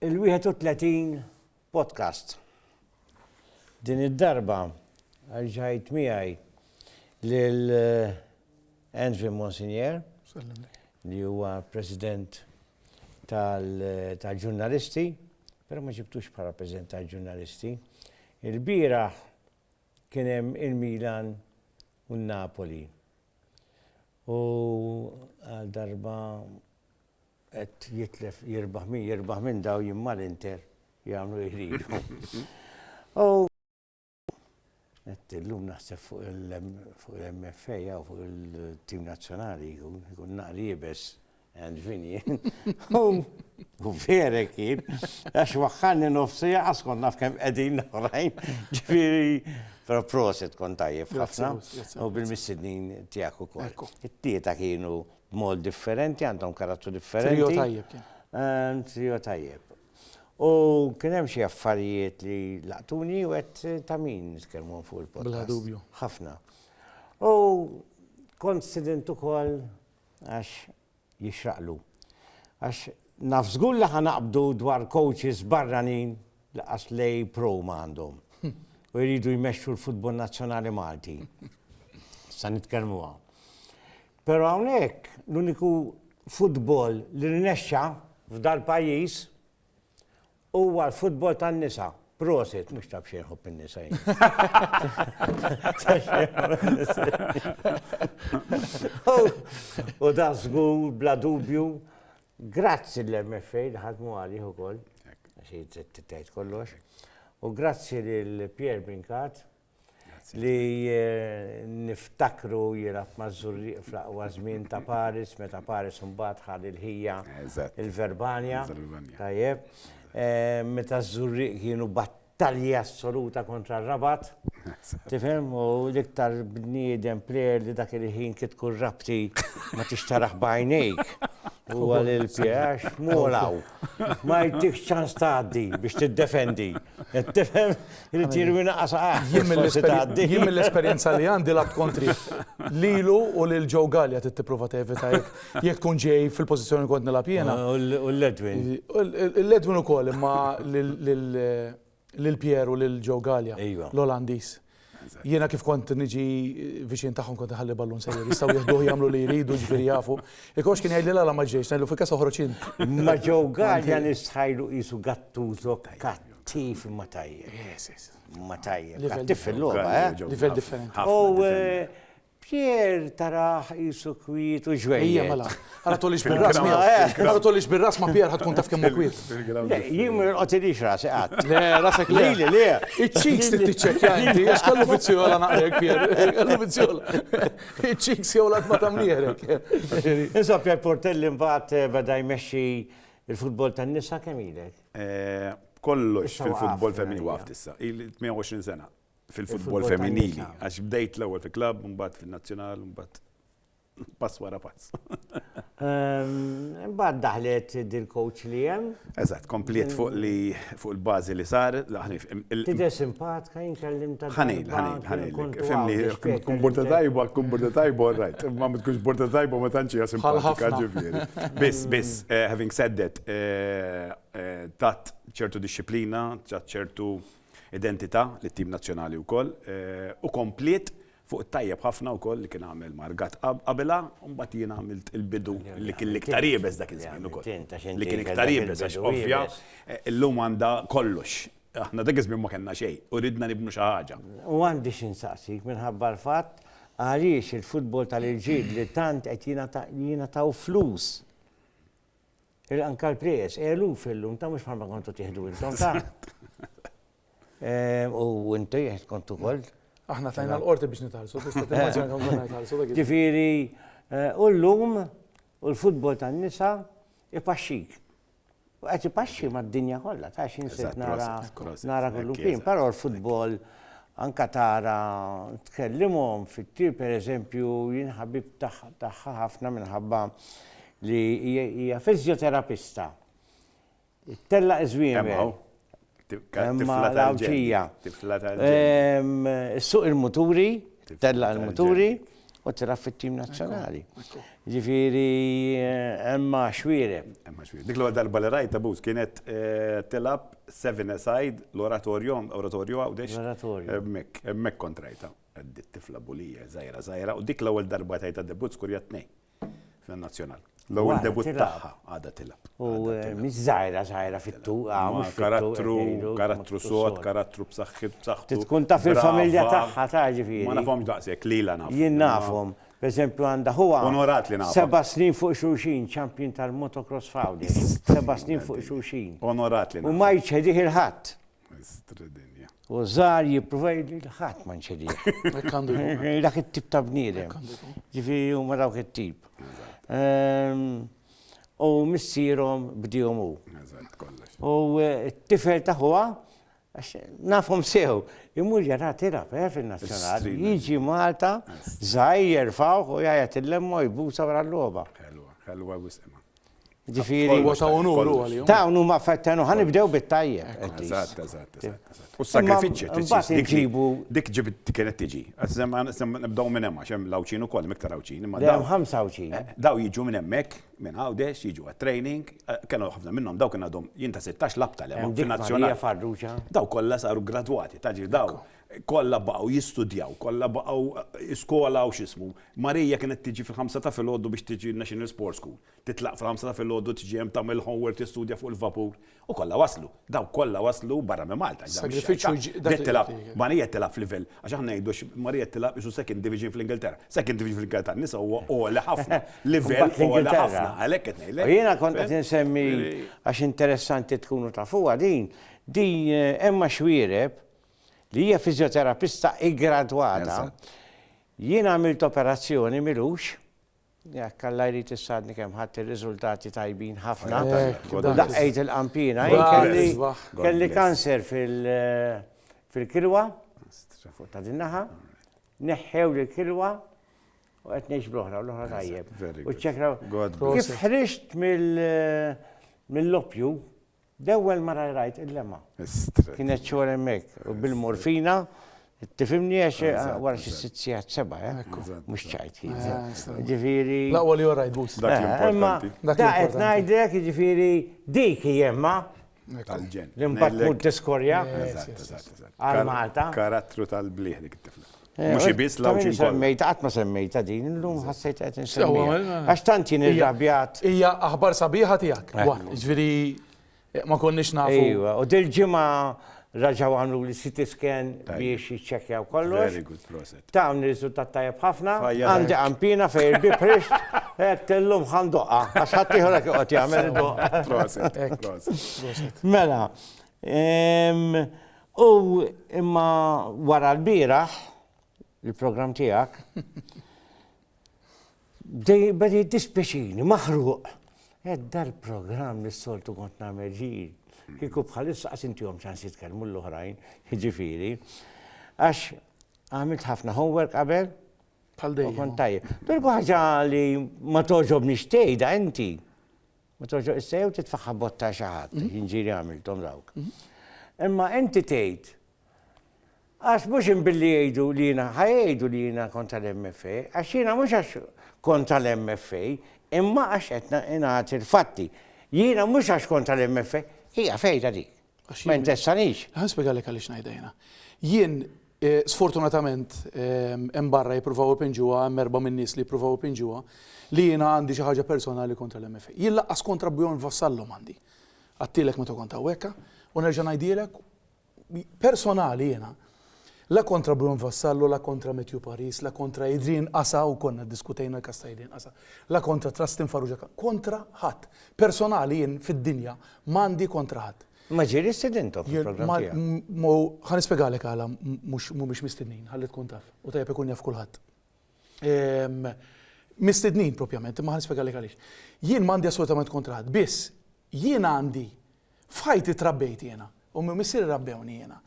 Il-31 Podcast. Din id-darba għal ġajt miegħi lil Andrew Monsignor li huwa President tal-ġurnalisti, però ma ġibtux bħala President tal-ġurnalisti. Il-bieraħ kien hemm il-Milan u n-Napoli. U għal darba Qed jitlef jirbaħ min jirbaħ minn daw jien mal-Inter jagħmlu li jridu. U qed illum naħseb fuq il-MFA jew fuq il-tim nazzjonali jkun naqri jibes and Vinny. U vera kien, għax waħħanni nofsi għas kont naf kemm qegħdin l-oħrajn, ġifieri però proset kont tajjeb ħafna u bil-missidnin tiegħek ukoll. It-tieta kienu B'mod differenti, għandhom karattru differenti. Trio tajjeb kien. Ehm, trio tajjeb. U kien hemm xi affarijiet li laqtuni u qed ta' min nitkellmu fuq il-podcast. Bla dubju. Ħafna. U kont student ukoll għax jixraqlu. Għax naf żgur li ħanaqbdu dwar coaches barranin li qas lej pro ma għandhom. Hm. U jridu jmexxu l-futbol nazzjonali Malti. Sa nitkellmuha. Pero hawnhekk l-uniku futbol li rnexxa f'dal-pajjiż huwa l-futbol tan-nisa. Prosit, mhux ta' b'xejn ħobb in-nisa jien. U dan żgur bla dubju grazzi l-MFA li ħadmu għalih ukoll, xi tgħid kollox. U grazzi lil Pierre Brincat li eh, niftakru jirab mażurriq fl-aqwa żmien ta' Paris, meta Paris mbagħad ħad il-ħija il-Verbanja. Tajjeb. Eh, meta żurriq kienu battalja assoluta kontra r-rabat. Tifhem u l-iktar bniedem plejer li dak il-ħin kit tkun rabti ma tixtaraħ bajnejk. U għal il-pjax, molaw. Ma jtik ċans tgħaddi biex tiddefendi. Qed tifhem irid jirwina qasaq. Jien mill-esperjenza li għandi la tkontri lilu u lil Joe Gallia trid tipprova tevita jekk tkun ġej fil-pożizzjoni kont nilgħab jiena. U l-Ledwin. L-Ledwin ukoll imma lil Pierre u lil Joe Gallia, l-Olandiż. Jiena kif kont niġi viċin tagħhom kont iħalli ballun sejjer, jistgħu jieħduh jagħmlu li jridu ġifieri jafu. Ikox kien jgħidli la ma ġejx, ngħidlu fil-każ oħroġ int. Ma ġew Galja nistħajlu qisu Gattuso kattiv imma tajjeb. Imma tajjeb. Kattiv fil-logħba, eh? Livell differenti. U Pierre tarah qisu kwiet u ġwejjed. Ejja mela. Ara tolix bir-ras miegħu. Ara tolix bir-ras ma' Pierre ħatkun taf kemm hu kwiet. Jien ma jorqodilix rasi qatt. Le, rasek le. Lili le. Iċ-cheeks trid tiċċekkja inti għax kellu vizzjola naqrek Pierre. Kellu vizzjola. Iċ-cheeks jew l-għatma ta' mnieħrek. Insomma, Pierre Portelli mbagħad eh, beda jmexxi l-futbol tan-nisa kemm ilek? Eh, kollox fil-futbol femminili waft issa. Il-28 sena. fil-futbol femminili. Għax bdejt l-ewwel fi klabb, mbagħad fin-nazzjonal, mbagħad pass wara pass. Ehm, mbagħad daħlet dil-coach li hemm. Eżatt, kompliet fuq li fuq il-bażi li sar, laħni. Tidher simpatka jinkellim ta' ħanil, ħanil, ħanil. Fimni, kun borta tajba, kun borta tajba, rajt. Ma tkunx borta tajba ma tantx hija simpatika ġifieri. Biss, biss, eh, having said that, eh, eh, tat ċertu disċiplina, tat ċertu identità lit-tim nazzjonali wkoll u kompliet fuq it-tajjeb ħafna wkoll li kien għamel Margat qabilha u mbagħad jien għamilt il-bidu li kien l-iktar iebes dak iż-żmien ukoll. Li kien iktar iebes għax ovvja illum għandha kollox. Aħna dak iż-żmien ma kellna xejn u ridna nibnu xi ħaġa. U għandi xi nsaqsik minħabba l-fatt għaliex il-futbol tal-irġiel li tant qed jingħataw flus Anka l-prijez, eluf illum ta' mhux bħalma kontu tieħdu intom ta'. Eh, u inti kontu kol. Aħna tajna l-qorti biex nitalsu, tista' timmaġina kemm konna nitalsu. Ġifieri, eh, u llum u l-futbol tan-nisa ipaxxik. U qed ipaxxi mad-dinja kollha, ta' xin se nara nara kullu kien, però l-futbol anka tara tkellimhom fit-tir pereżempju jien ħabib tagħha ħafna minħabba li hija fizjoterapista. Tella iżwiemer. Tifla tal-ġija. Tifla tal-ġija. Suq il-muturi, tella il-muturi u tilab fit-tim nazzjonali. Ġifieri emma xwire. Emma xwire. Dik l-għodda darba li rajta bus kienet eh, tilab seven aside l-oratorju, oratorju għawdex. L-oratorju. Mek kontrajta. Dit tifla bulija, zajra, zajra, u dik l-ewwel darba tajta debut skurja tnejn. Nazzjonal. L-ewwel debut tagħha għadha tilgħab. U mhix żgħira żgħira fit-tu, mhux karattru, karattru sod, karattru b'saħħit b'saħħtu. Tkun taf il-familja tagħha ta' ġifieri. Ma nafhomx daqshekk lilha naf. Jien nafhom. Per eżempju għandha ħuha. Onorat li nafhom. Seba' snin fuq xulxin, champion tal-motocross f'Għawdex. Seba' snin fuq xulxin. Onorat li nafhom. U ma jċedih il-ħadd. Mistra dinja. U żgħar jipprova jgħidli li ħadd ma nċedih. Dak it-tip ta' bniedem. Ġifieri huma dawk it-tip. Ehm, u missierhom bdihom hu. U eh, t-tifel ta' ħuha nafhom sew, imur jara tilab eh, fin-nazzjonali, jiġi Malta, żgħir jerfgħu u jgħid il-lemma jbusa wara l-logħba. Ħelwa, ħelwa wisqima. Ġifieri. Huwa ta' unur hu għalihom. Dawn huma affarijiet ta' unur. Ħa nibdew bit-tajjeb. Eżatt, eżatt, eżatt. U s-sagrifiċċji trid tqis. Imbagħad inġibu. Dik ġibt kienet tiġi. Nibdew minn hemm għax hemm l-Għawdxin ukoll, hemm iktar Għawdxin. Le hemm ħamsa Għawdxin. Dawn jiġu minn hemmhekk, minn Għawdex, jiġu għat-training. Kellhom ħafna minnhom dawn kien għadhom jien ta' sittax labta li hemm fil-Nazzjonali. Hemm Marija Farrugia. Dawn kollha saru ggradwati. Taf ġifieri dawn. Kollha baqgħu jistudjaw, kollha baqgħu skola u x'ismu. Maria kienet tiġi fil-ħamsa ta' filgħodu biex tiġi n-National Sports School. Titlaq fil-ħamsa ta' filgħodu tiġi hemm tagħmel homework tistudja fuq il-vapur. U kollha waslu. Dawk kollha waslu barra minn Malta. Bdiet tilgħab, Maria qed tilgħab f'livell, għax aħna ngħidu għax Maria qed tilgħab qisu second division fl-Ingilterra. Second division fl-Ingilterra tan-nisa huwa għoli ħafna. Livell għoli ħafna. Għalhekk qed ngħidlek. U jiena kont qed insemmi għax interessanti tkunu tafuha din, din hemm għax wiereb, li hija fiżjoterapista iggradwata, jien għamilt operazzjoni m'ilux, jekk Alla jrid issadni kemm ħadt ir-riżultati tajbin ħafna, u daqqejt il-qampina, kelli kanser fil-kilwa, fuq ta' din naħa, neħħewli l-kilwa u qed ngħix bl-oħra, l-oħra tajjeb. U ċċekraw. Kif ħriġt mill-loppju, L-ewwel mara li rajt il-lema. Kienet xogħol hemmhekk u bil-morfina Tifimni għax eh, wara xi sitt sigħat seba', eh? mhux ċajt kien. Eh? Ah, ġifieri. Laqwa li orajt bus. Dak eh, importanti. Dak qed ngħidlek, ġifieri dik jemma. Tal-ġen. L-impatt mhux tiskorja. Għal Malta. Karattru tal-bliħ dik it-tifla. Mhux ibiss l-għawġin kollha. Semmejta, qatt ma semmejta din, illum ħassejt qed insemmejha. Għax tant jien irrabjat. Hija aħbar sabiħa tiegħek. Ġifieri ma konniex nafu. Iva, u dil-ġimgħa raġaw għamlu li CT scan biex jiċċekjaw kollox. Very good proset. Ta' għamni riżultat tajab ħafna, għandi għampina fej il-biprix, għed tellum għan doqqa, għax ħattijħu l-għak għot jgħamil doqqa. Proset, proset. Mela, Ehm, u imma wara l-bieraħ, il-programm tiegħek, beda jiddispjaċini, maħruq. Ed dal-programm li s-soltu kont nagħmel ġir. Kieku bħalissa qas intihom ċans jitkellmu l-oħrajn, jiġifieri. Għax għamilt ħafna homework qabel. Bħal dejjem. Kont tajjeb. Dur ħaġa li ma toġobni xtejda inti. Ma tafx issa jew titfagħha botta għal xi ħadd, jinġieli għamilthom dawk. Imma inti tgħid Għax mhux imbilli jgħidu li jiena ħajgħidu li jiena kontra l-MFA, għax jiena mhux għax kontra l-MFA, imma għax qed ingħati l-fatti. Jiena mhux għax kontra l-MFA, hija fejda dik. Ma jinteressanix. Ħa nispjegalek għaliex ngħidha jiena. Jien eh, sfortunatament ehm, hemm barra jippruvaw ipinġuha, hemm erba' min-nies li jippruvaw ipinġuha li jiena għandi xi ħaġa personali kontra l-MFA. Jien laqqas kontra Bjorn Vassallom għandi. Għattilek meta kont hawnhekk, u nerġa' ngħidilek personali jiena La kontra Bruno Vassallo, la kontra Matthew Paris, la kontra Adrian Asa, u konna ddiskutejna l-każ ta' Adrian Asa, la kontra Trustin Farrugia, kontra ħadd. Personali jien fid-dinja m'għandi kontra ħadd. Ma ġieli stidinthom fil-programm tiegħek. Ħa nispjegalek għala mhumiex mistednin, ħalli tkun taf, u tajjeb ikun jaf kulħadd. Mistednin propjament, imma ħa nispjegalek għaliex. Jien m'għandi assolutament kontra ħadd, biss jien għandi F'ħajti trabbejt jiena, ommi u missieri rabbewni jiena,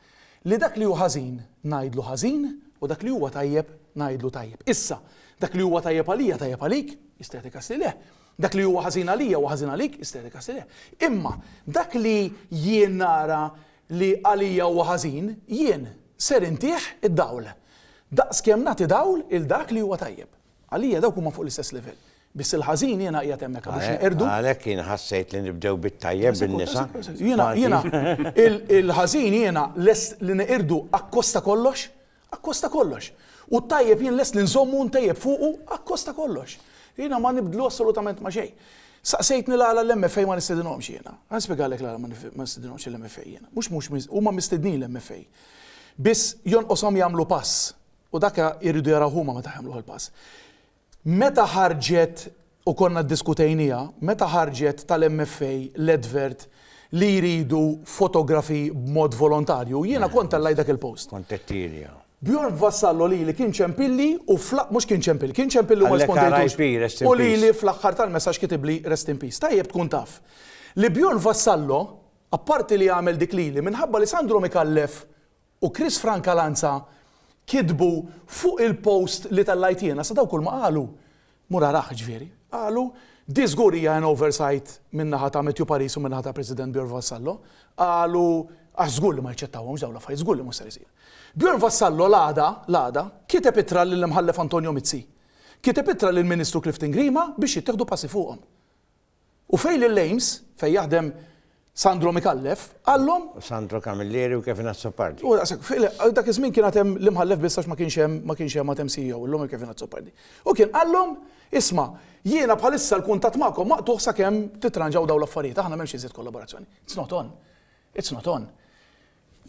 li dak li hu ħażin ngħidlu ħażin u dak li huwa tajjeb ngħidlu tajjeb. Issa, dak li huwa tajjeb għalija tajjeb għalik, jista' jagħtik asli leh, dak li huwa ħażin għalija huwa ħażin għalik, jista' jagħtik asli leh. Imma dak li jien nara li għalija huwa ħażin, jien ser intih id-dawl, daqskemm nagħti dawl 'il dak li huwa tajjeb. Għalija dawk huma fuq l-istess livell. Biss il-ħażin jiena qiegħed hemmhekk biex neqirdu. Għalhekk jien ħassejt li nibdew bit-tajjeb bin-nisa. Jiena jiena il-ħażin jiena lest li neqirdu akkosta kollox, akkosta kollox. U t-tajjeb jien lest li nżommu ntejjeb fuqu akkosta kollox. Jiena ma nibdlu assolutament ma' xejn. Saqsejtni l-għala l-MFA ma nistedinhomx jiena. Ħa spjegalek l-għala ma nistedinhomx l-MFA jiena. Mhux mhux huma mistednin l-MFA. Biss jonqoshom jagħmlu pass U dak irridu jaraw huma meta jagħmluh il-pass. Meta ħarġet, u konna ddiskutejniha, meta ħarġet tal-MFA l-advert li jridu fotografi b'mod volontarju, jiena kont tellajt dak il-post. Kont qed tielja. Bjorn Vassallo lili kien ċempilli u fl-, mhux kien ċempilli, kien ċempilli u ma rispondejtux. RIP, rest in peace. U lili fl-aħħar tal-messaġġ kitibli rest in peace. Tajjeb tkun taf li Bjorn Vassallo, apparti li għamel dik lili, minħabba li Sandro Micallef u Chris Francalanza kitbu fuq il-post li tellajt jiena, sa dawk kulma qalu, mur arah ġifieri, qalu di żgur hija an oversight minn naħa ta' Matthew Paris u minn naħa tal-President Bjorn Vassallo, qalu għax żgur li ma jaċċettawhomx dawn l-affarijiet, żgur li mhux ser isir. Bjorn Vassallo l-għada, l-għada, kiteb ittra lill-Imħallef Antonio Mizzi. Kiteb ittra lill-Ministru Clifton Grima biex jittieħdu passi fuqhom. U fejn lil Ames, fejn jaħdem Sandro Micallef, qallhom. U Sandro Camilleri u Kevin Azzopardi. U daqshekk, fi, dak iż-żmien kien għad hemm l-Imħallef biss għax ma kienx hemm ma kienx hemm għad hemm CEO, illum hemm Kevin Azzopardi. U kien qallhom, Isma', jiena bħalissa l-kuntatt magħkom maqtugħ sakemm titranġaw dawn l-affarijiet, aħna m'hemmx iżjed kollaborazzjoni. It's not on. It's not on.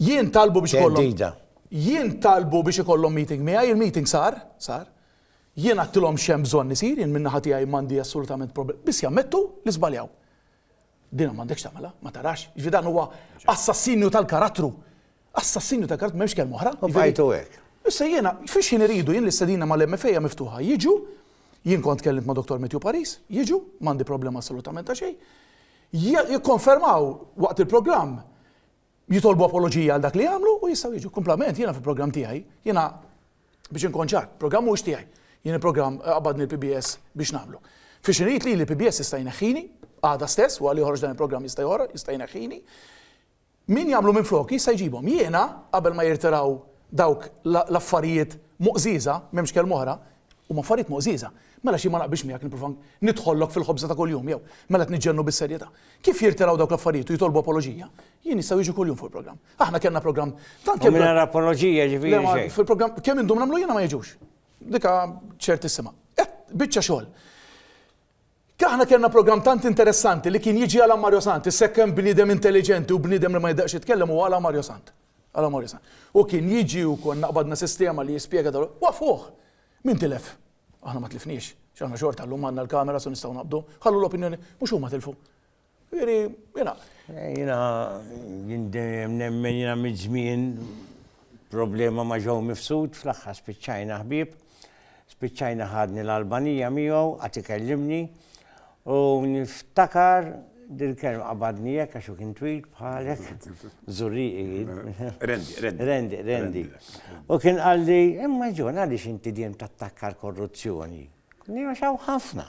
Jien talbu biex ikollhom. Theddida. Jien talbu biex ikollhom meeting miegħi, il-meeting sar, sar. Jien għadtilhom x'hemm bżonn isir, jien min-naħa tiegħi m'għandi assolutament problema, biss jammettu li żbaljaw. Din m'għandekx tagħmilha, ma tarax, jiġifieri dan huwa assassinju tal-karattru. Assassinju tal-karattru m'hemmx kelma oħra. U bqajtu hekk. Issa jiena, f'x'ħin iridu, jien l-istedina mal-MFA hija miftuħa, jiġu, jien kont tkellimt ma' Dottor Matthew Paris, jiġu, m'għandi problema assolutament ta' xejn, jikkonfermaw waqt il-programm jitolbu apoloġija għal dak li għamlu u jistgħu jiġu. Kumplament jiena fil-programm tiegħi, jiena biex inkun ċar, programm mhux tiegħi. Jien il-programm qabadni l-PBS biex nagħmlu. Fi xinejt li l-PBS jista' jneħħini, għada stess, wara li joħroġ dan il-programm jista' joħroġ, jista' jneħħini. Min jagħmlu minn flok jista' jġibhom. Jiena qabel ma jirtiraw dawk l-affarijiet muqżiża, m'hemmx kelm oħra, Huma affarijiet moqżieża. Mela xi ma naqbilx miegħek nipprova nidħollok fil-ħobża ta' kuljum jew, mela qed niġġennu bis-serjetà. Kif jirtiraw dawk l-affarijiet u jitolbu apoloġija? Jien jistgħu jiġu kuljum fuq il-programm. Aħna kellna programm tant kemm. U mingħajr apoloġija jiġifieri xejn. Le ma fil-programm kemm indum nagħmlu jiena ma jiġux. Diqa ċert issimha. Biċċa xogħol. Aħna kellna programm tant interessanti li kien jiġi għala Mario Sant, issekk hemm bniedem intelliġenti u bniedem li ma jidaqx jitkellem huwa għala Mario Sant. Għala Mario Sant. U kien jiġi u konna qbadna sistema li jispjega dawn l-affarijiet. Waqqfuh! Min tilef? Aħna ma tlifniex, għax aħna xorta llum għandna l-cameras u nistgħu naqbdu. Ħallu l-opinjoni, mhux huma tilfu. Jiġifieri, jiena. Jiena jien dejjem nemmen jiena miż-żmien problema ma' Joe Mifsud fl-aħħar spiċċajna ħbieb. Spiċċajna ħadni l-Albanija miegħu, għad ikellimni u niftakar dil-kelma qabadni hekk għax hu kien twil bħalek, żurrieqi jien. Rendi, Rendi. Rendi, Rendi. U kien qalli, imma John għaliex inti dejjem tattakka l-korruzzjoni? Għax hawn ħafna.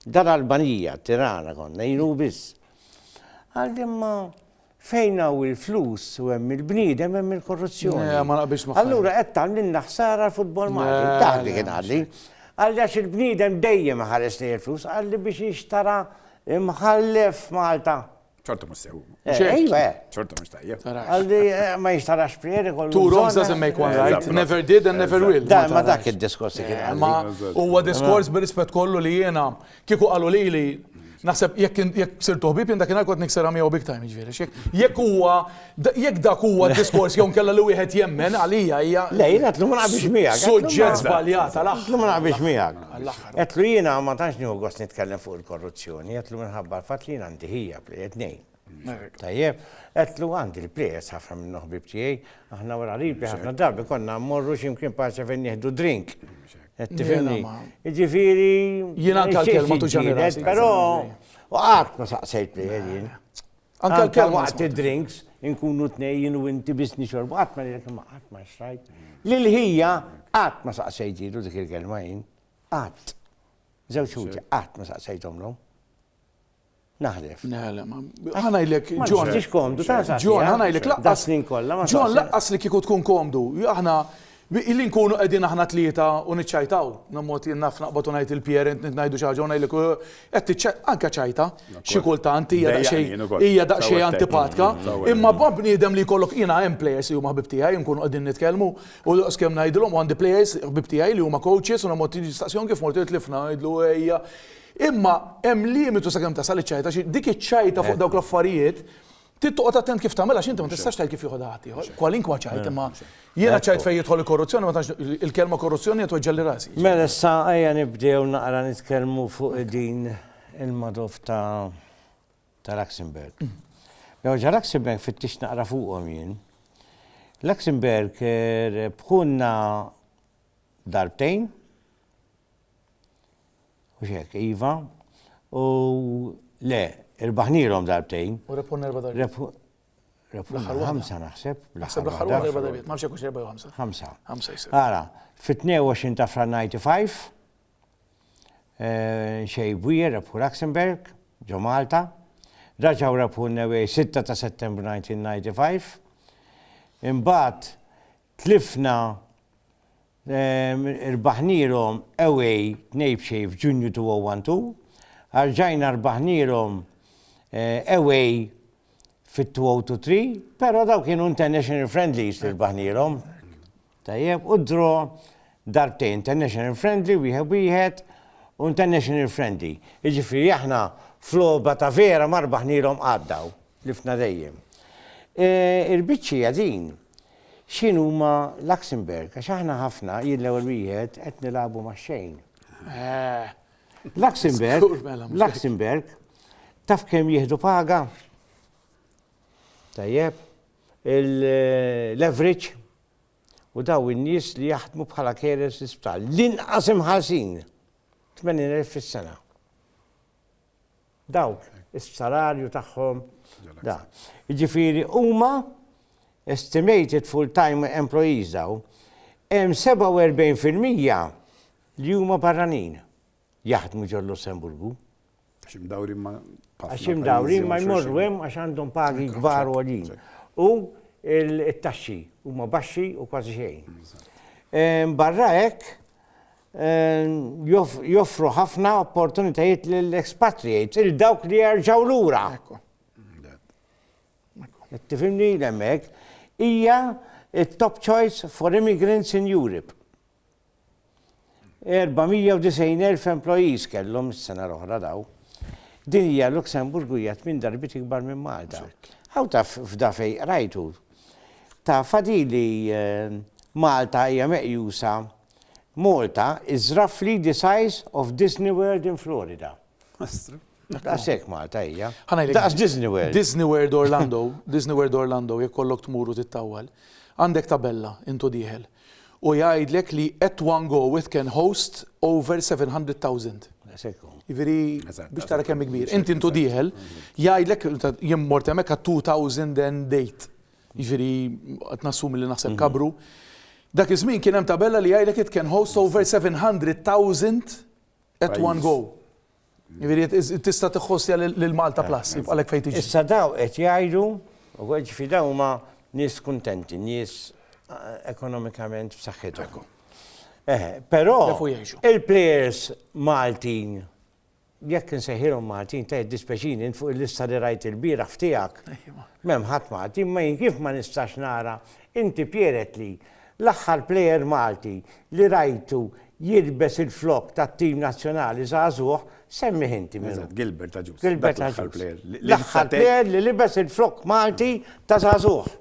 Dar Albanija, Tirana konna, jien u biss. Għal imma fejn hawn il-flus u hemm il-bniedem hemm il-korruzzjoni. Eh, ma naqbilx ma' Allura qed tagħmlilna ħsara l-futbol eh, Malti. Taħdi kien għalli. Għal għax il-bniedem dejjem ħares li il-flus, għalli biex jixtara imħallef Malta. ċorta mux sew. Ejwa. ċorta mux tajja. Għaldi eh, ma jistarax prieri kollu. Two wrongs doesn't make one right. Never did and never will. Da, ma dak il-diskors kien. Eh, ma huwa diskors bil-rispet kollu li jena kieku għalu li li Naħseb jekk jekk sir toħbib jien dakinhar kont niksera miegħu big time jiġifieri. Jekk huwa jekk dak huwa diskors jew kella li wieħed jemmen għalija hija. Le jiena tlum ma naqbix miegħek. Suġġett żbaljat għal aħħar. Tlum ma naqbix miegħek. Għedtlu jiena ma tantx nieħu gost nitkellem fuq il-korruzzjoni, għedtlu minħabba l-fatt li jien għandi ħija plejet nejn. Tajjeb, għedtlu għandi l-plejers ħafna minn ħbib tiegħi, aħna wara ribi ħafna darbi konna mmorru x'imkien paċe fejn nieħdu drink. Tifhimni. Ġifieri. Jiena anke l-kelma tuġani. Però u qatt ma saqsejt plejer jien. Anke kemm waqt id-drinks, inkunu tnej jien u inti biss nixorbu, qatt ma ngħidlek imma qatt ma xrajt. Lil ħija qatt ma saqsejtilu dik il-kelma jien. Qatt. Żewġ ħuti qatt ma saqsejthomlhom. Naħlef. Naħlef. Ħanajlek, John. Mhux komdu, ta' John, ħanajlek laqqas. Snin kollha. John, laqqas li kieku tkun komdu. Aħna Billi nkunu qegħdin aħna t-tlieta u niċċajtaw, bla mod jien naf naqbad u ngħid il-parent nid ngħidu xi ħaġa u ngħidlek u qed tiċċaj anke ċajta xi kultant hija daqsxejn hija daqsxejn antipatka imma ma' bniedem li jkollok jiena hemm players li huma ħbieb tiegħi nkunu qegħdin nitkellmu u daqskemm ngħidilhom u għandi players ħbieb tiegħi li huma coaches u bla mod tiġi tistaqsihom kif mort tgħid tlifna ngħidlu ejja imma hemm limitu sakemm tasal iċ-ċajta xi dik iċ-ċajta fuq dawk l-affarijiet Trid toqgħod attent kif tagħmel għax inti ma tistax tgħid kif jieħodha ħadd ieħor. Kwalinkwa ċajt imma jiena ċajt fejn jidħol il-korruzzjoni ma tantx il-kelma korruzzjoni qed tweġġelli rasi. Mela issa ejja nibdew naqra nitkellmu fuq din il-madov ta' ta' Luxemburg. Mela ġa Luxemburg fittix naqra fuqhom jien. Luxemburg bħunna darbtejn Mhux hekk, iva. U le, irbaħnielhom darbtejn. U rebħun erba' darbiet. Rebħun ħamsa naħseb. Naħseb l-aħħar waħda erba' darbiet, ma nafx hekk erba' jew ħamsa. Ħamsa. Ħamsa jsir. Ara, fit-22 ta' Fran 95, eh, xej Bwier rebħu Luxemburg, ġo Malta, raġaw rebħu n-Newej 6 ta' Settembru 1995, imbagħad Tlifna rbaħnielhom away tnejn b'xejn f'Ġunju 2012, rġajna rbaħnielhom away fit-2023, però dawn kienu international friendlies li rbaħnielhom, tajjeb, u draw darbtejn, international friendly wieħed b'wieħed u international friendly. Jiġifieri aħna f'logħba ta' vera ma rbaħnielhom qatt dawn, tlifna dejjem. Il-biċċa hija din. x'inhuma Luxembourg, għax aħna ħafna, jien l-ewwel wieħed, qed nilagħbu max-xejn. Luxembourg, Luxembourg, taf kemm jieħdu paga? Tajjeb, l-average u daw in-nies li jaħdmu bħala carers l-isptal. L-inqas imħalsin, 80,000 fis-sena. Dawk is-salarju tagħhom da. Jiġifieri huma estimated full-time employees dawn, hemm 47 fil-mija li huma barranin jaħdmu ġol-Lussemburgu. Għax imdawrin ma' Għax imdawrin ma jmorru hemm għax għandhom pagi kbar għolin. U it-taxxi huma baxxi u kważi xejn. Barra hekk, joffru ħafna opportunitajiet lill-expatriates, il dawk li jerġgħu lura. Tifimni l-emmek, hija il-top choice for immigrants in Europe. 490.000 employees kellhom s-sena l-oħra daw. Din hija Luxemburg u hija minn darbit ikbar minn Malta. Għaw ta' f'da fej rajtu. Ta' fadili eh, Malta hija meqjusa Malta is roughly the size of Disney World in Florida. Daqshekk Malta hija. Daqs Disney World. Disney World Orlando, Disney World Orlando jekk kollok tmur u tittawwal, għandek tabella int u dieħel u jgħidlek li at one go it can host over 700,000. Daqshekk hu. Jiġifieri biex tara kemm hi kbira. Inti int u dieħel jgħidlek jien mort hemmhekk għat-2008. jiġifieri qed nassumi li naħseb kabru, dak iż-żmien kien hemm tabella li jgħidlek it can host over 700,000 at one go. Jiġifieri tista' tiħħostja lil Malta Plus, jibqalek fejn tiġi. Issa daw qed jgħidu, u jiġifieri dawn huma nies kuntenti, nies ekonomikament f'saħħithom. Eħe, però il-plejers Maltin Jekk insejħilhom Maltin ta' jiddispjaċini int fuq il-lista li rajt ilbieraħ f'tiegħek m'hemm ħadd Malti imma jien kif ma nistax nara inti Pieretli l-aħħar plejer Malti li rajtu jilbes il-flokk tat-tim nazzjonali żagħżugħ semmih inti min hu. Gilbert Agius. Gilbert Agius. L-aħħar plejer li libes il-flokk Malti ta' żagħżugħ.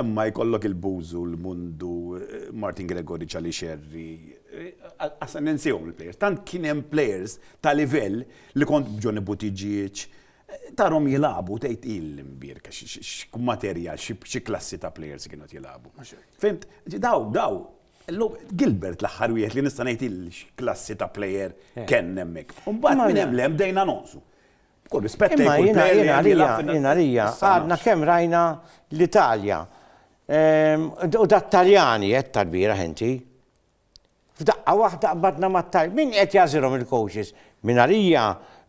Imma jkollok il-Bużu, l-Mundu, Martin Gregori, Charlie Scerri, asa ninsihom il-players. Tant kien hemm players ta' livell li kont b'Johnny Buttigieg, tarhom jilagħbu tgħid hi l-imbierka x'materjal, xi klassi ta' players kienu qed jilagħbu. Fimt? Daw, daw, illum Gilbert l-aħħar wieħed li nista' ngħid hi x'klassi ta' player kellna hemmhekk. U mbagħad minn hemm 'l hemm bdejna nonqsu. B'kull rispett lejn kull plejer li qed jilgħab fin-Nazzjonali. Imma jiena għalija, jiena għalija, għadna kemm rajna l-Italja, u dat-Taljani għedt tal-bieraħ inti, f'daqqa waħda qbadna mat-Tal-. Min qed jagħżilhom il-coaches? Minn għalija,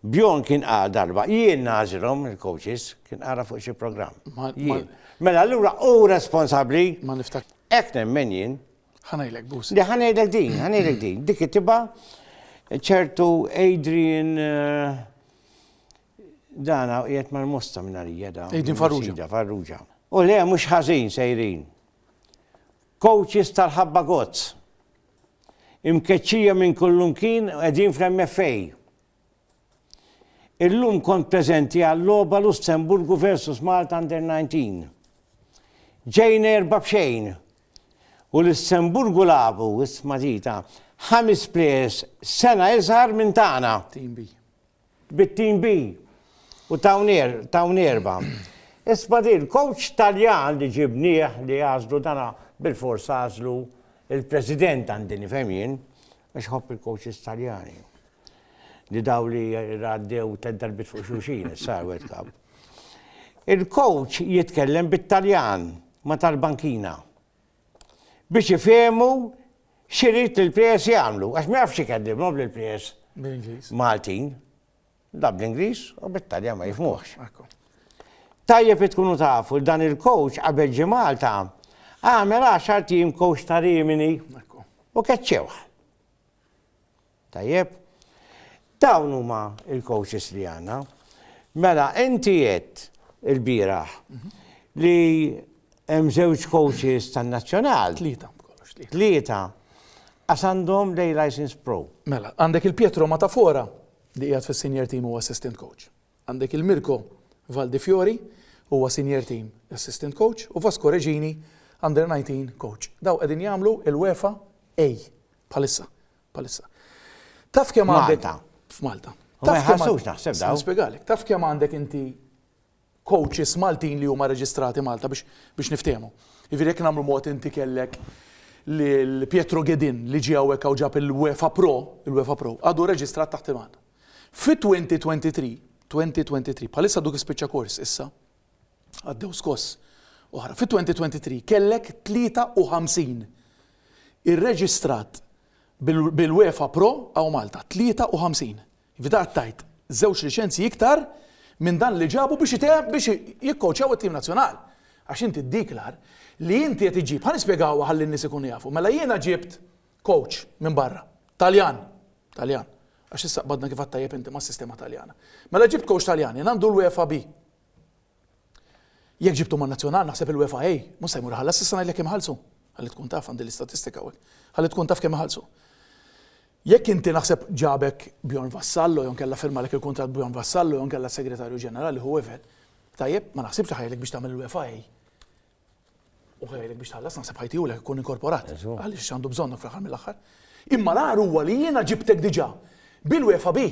Bjorn kien qal darba, jien nagħżilhom il-coaches, kien qalha fuq xi programm. Jien. Mela allura hu responsabbli. Ma niftakirx. Hekk nemmen jien. Ħanajlek bus. Di ħanajlek din, ħanajlek din. Dik tiba ċertu Adrian eh, dana qiegħed mal-mosta minn għalija da. Adrian Farrugia. Farrugia. U le mhux ħażin sejrin. Coaches tal-ħabba gozz. Imkeċċija minn kullum kien qegħdin fl-MFA. Illum kont preżenti għal-logħba Lussemburgu versus Malta Under 19. Ġejna erba' b'xejn. U Lussemburgu lagħbu, isma' zita, ħames plejers sena iżgħar minn tagħna. Team B. Bit-Team B. U tawn erba'. Isma' din, coach Taljan li ġibnieh li għażlu dana bil-fors għażlu il-President għandi nifhem jien, Għax iħobb il-coaches Taljani. Li daw li għaddew ted darbit fuq xulxin, sar World Cup. Il-coach jitkellem bit-Taljan ma tal-bankina. Biex ifehmu xirit li l-PS jagħmlu, għax ma jafx ikellimhom li l-PS Maltin. Da bl-Ingliż u bit-Taljan ma jifhmuhx. Tajjeb li tkunu tafu li dan il-coach qabel ġie Malta għamel għaxar tim coach ta' Rimini u keċċewh. Tajjeb? Dawn huma il-coaches li għandna. Mela, inti jett il-bieraħ mhm. li hemm żewġ coaches tan-nazzjonal. Tlieta, kollox tlieta. Tlieta. Għax għandhom lej license pro. Mela, għandek il-Pietro Matafora li qiegħed fis-senior team u assistant coach. Għandek il Mirko Valdifiori, huwa senior team assistant coach u Vasco Regini, under 19 coach. Daw qegħdin jagħmlu il-UEFA A bħalissa. Bħalissa. Taf kemm għandek. F'Malta. F'Malta. Taf kemm għandek inti coaches Maltin li huma reġistrati Malta biex biex niftehmu. Jiġifieri jekk nagħmlu mod inti kellek lil Pietro Ghedin li ġie hawnhekk hawn ġab il-UEFA Pro, il-UEFA Pro, għadu reġistrat taħt Iman. Fi 2023, 2023, bħalissa għadu kif spiċċa kors issa, għaddew skoss oħra, fi 2023 kellek 53 irreġistrat bil-UEFA Pro hawn Malta, 53. Fdat tgħid żewġ liċenzji iktar minn dan li ġabu biex itemm biex jikkowċjaw it-tim nazzjonal. Għax inti ddiklar li inti qed iġġib, ħa nispjegawha ħalli n-nies ikunu jafu, mela jiena ġibt kowċ minn barra, Taljan, Taljan, għax issa qbadna kif għadt tajjeb inti mas-sistema Taljana. Mela ġibt kowċ Taljan, jien għandu l-UEFA B. Jekk ġibthom man-nazzjonal naħseb il-UEFA A mhux se jmur iħallas issa ngħidlek kemm iħallsu. Ħalli tkun taf għandi l-istatistika hawnhekk. Ħalli tkun taf kemm iħallsu. Jekk inti naħseb ġabek Bjorn Vassallo jew inkella firmalek il-kuntratt Bjorn Vassallo jew inkella s-Segretarju Ġenerali whoever, tajjeb, ma naħsibx li ħa jgħidlek biex tagħmel il-UEFA A u ħa jgħidlek biex tħallas naħseb ħa jtihulek ikun inkorporat għaliex għandu bżonnok fl-aħħar mill-aħħar. Imma l-agħar huwa li jiena ġibtek diġà bil-UEFA B.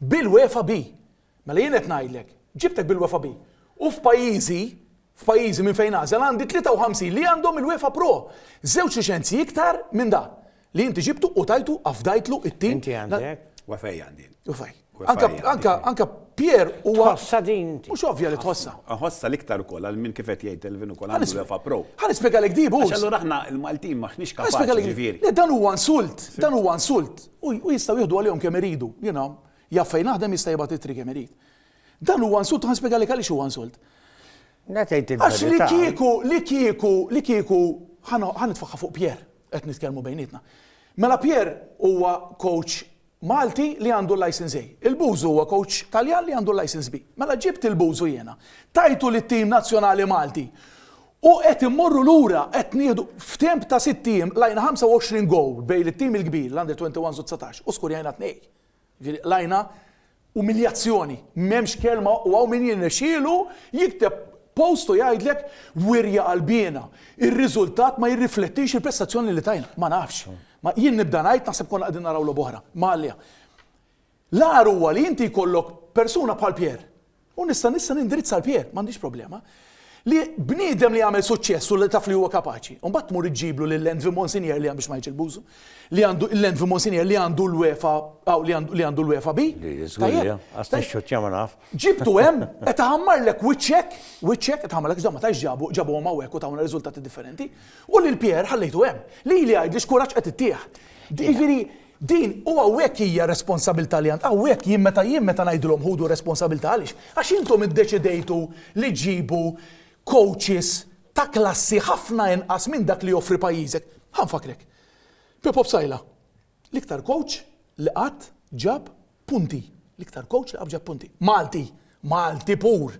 Bil-wefa bi. Mela jien qed ngħidlek, ġibtek bil-wefa bi. U f'pajjiżi, f'pajjiżi minn fejn nagħżel għandi 53 li għandhom il-wefa pro. Żewġ liċenzji iktar minn da li inti ġibtu u tajtu afdajtlu it-tim. Inti għandek? Wefej għandi jien. Wefej. Anka, anka, anka Pier u Tħossa din. Mhux ovvja li tħossa. Tħossa l-iktar ukoll għal min kif qed jgħid Elvin ukoll għandu wefa pro. Ħa nispjegalek di bus. Allura aħna l-Maltin maħniex kapaċi ġifieri. Dan huwa insult, dan huwa insult. U jistgħu jieħdu għalihom kemm iridu. Jiena jaf fejn naħdem jista' jibgħat ittri kemm irid. Dan huwa insult u ħanspjegalek għaliex huwa insult. Le tgħid il-verità. Għax li kieku, li kieku, li kieku, ħa nitfagħha fuq Pierre, qed nitkellmu bejnietna. Mela Pierre huwa coach Malti li għandu l-licence A. Il-Bużu huwa coach Taljan li għandu l-licence B. Mela ġibt il-Bużu jiena, tajtu lit-tim nazzjonali Malti U qed immorru lura, qed nieħdu, f'temp ta' sitt ijiem qlajna 25 goal bejn it-tim il-kbir, l-Under 21s u 19, u skurjajna tnejn. Jiġifieri qlajna umiljazzjoni, m'hemmx kelma u hawn min jirnexxielu jikteb post u jgħidlek wirja qalbiena, ir-riżultat ma jirriflettix il-prestazzjoni li tajna. Ma nafx. Jien nibda ngħid naħseb konna qegħdin naraw logħba oħra. Imma għalja. L-agħar huwa li inti jkollok persuna bħal Pierre, u nista' nista' nindirizza għal Pierre, m'għandix problema, li bniedem li għamel suċċess u li taf li huwa kapaċi, u mbagħad tmur iġġiblu lil Envy Monsinier li biex ma ngħidx il-bużu, li għandu l-Envy Monsinier li għandu l-UEFA aw li għandu li għandu l-UEFA B. Tajjeb. Għaż tixxuttja ma naf. Ġibtu hemm, qed iħammarlek wiċċek, wiċċek qed iħammarlek ġda ma tgħidx ġabu ġabuhom hawnhekk u tawna riżultati differenti, u lil Pierre ħallejtu hemm. Lili għidli x'kuraġġ qed ittih. Jiġifieri Din, u hawnhekk hija r-responsabilità li għand, hawnhekk jien meta jien meta ngħidilhom ħudu r-responsabilità għaliex? Għax intom iddeċidejtu li ġġibu coaches ta' klassi ħafna inqas minn dak li joffri pajjiżek. Ħa nfakkrek. Pippo Psaila, l-iktar coach li qatt ġab Punti. L-iktar kowċ li qabġa punti. Malti! Malti pur!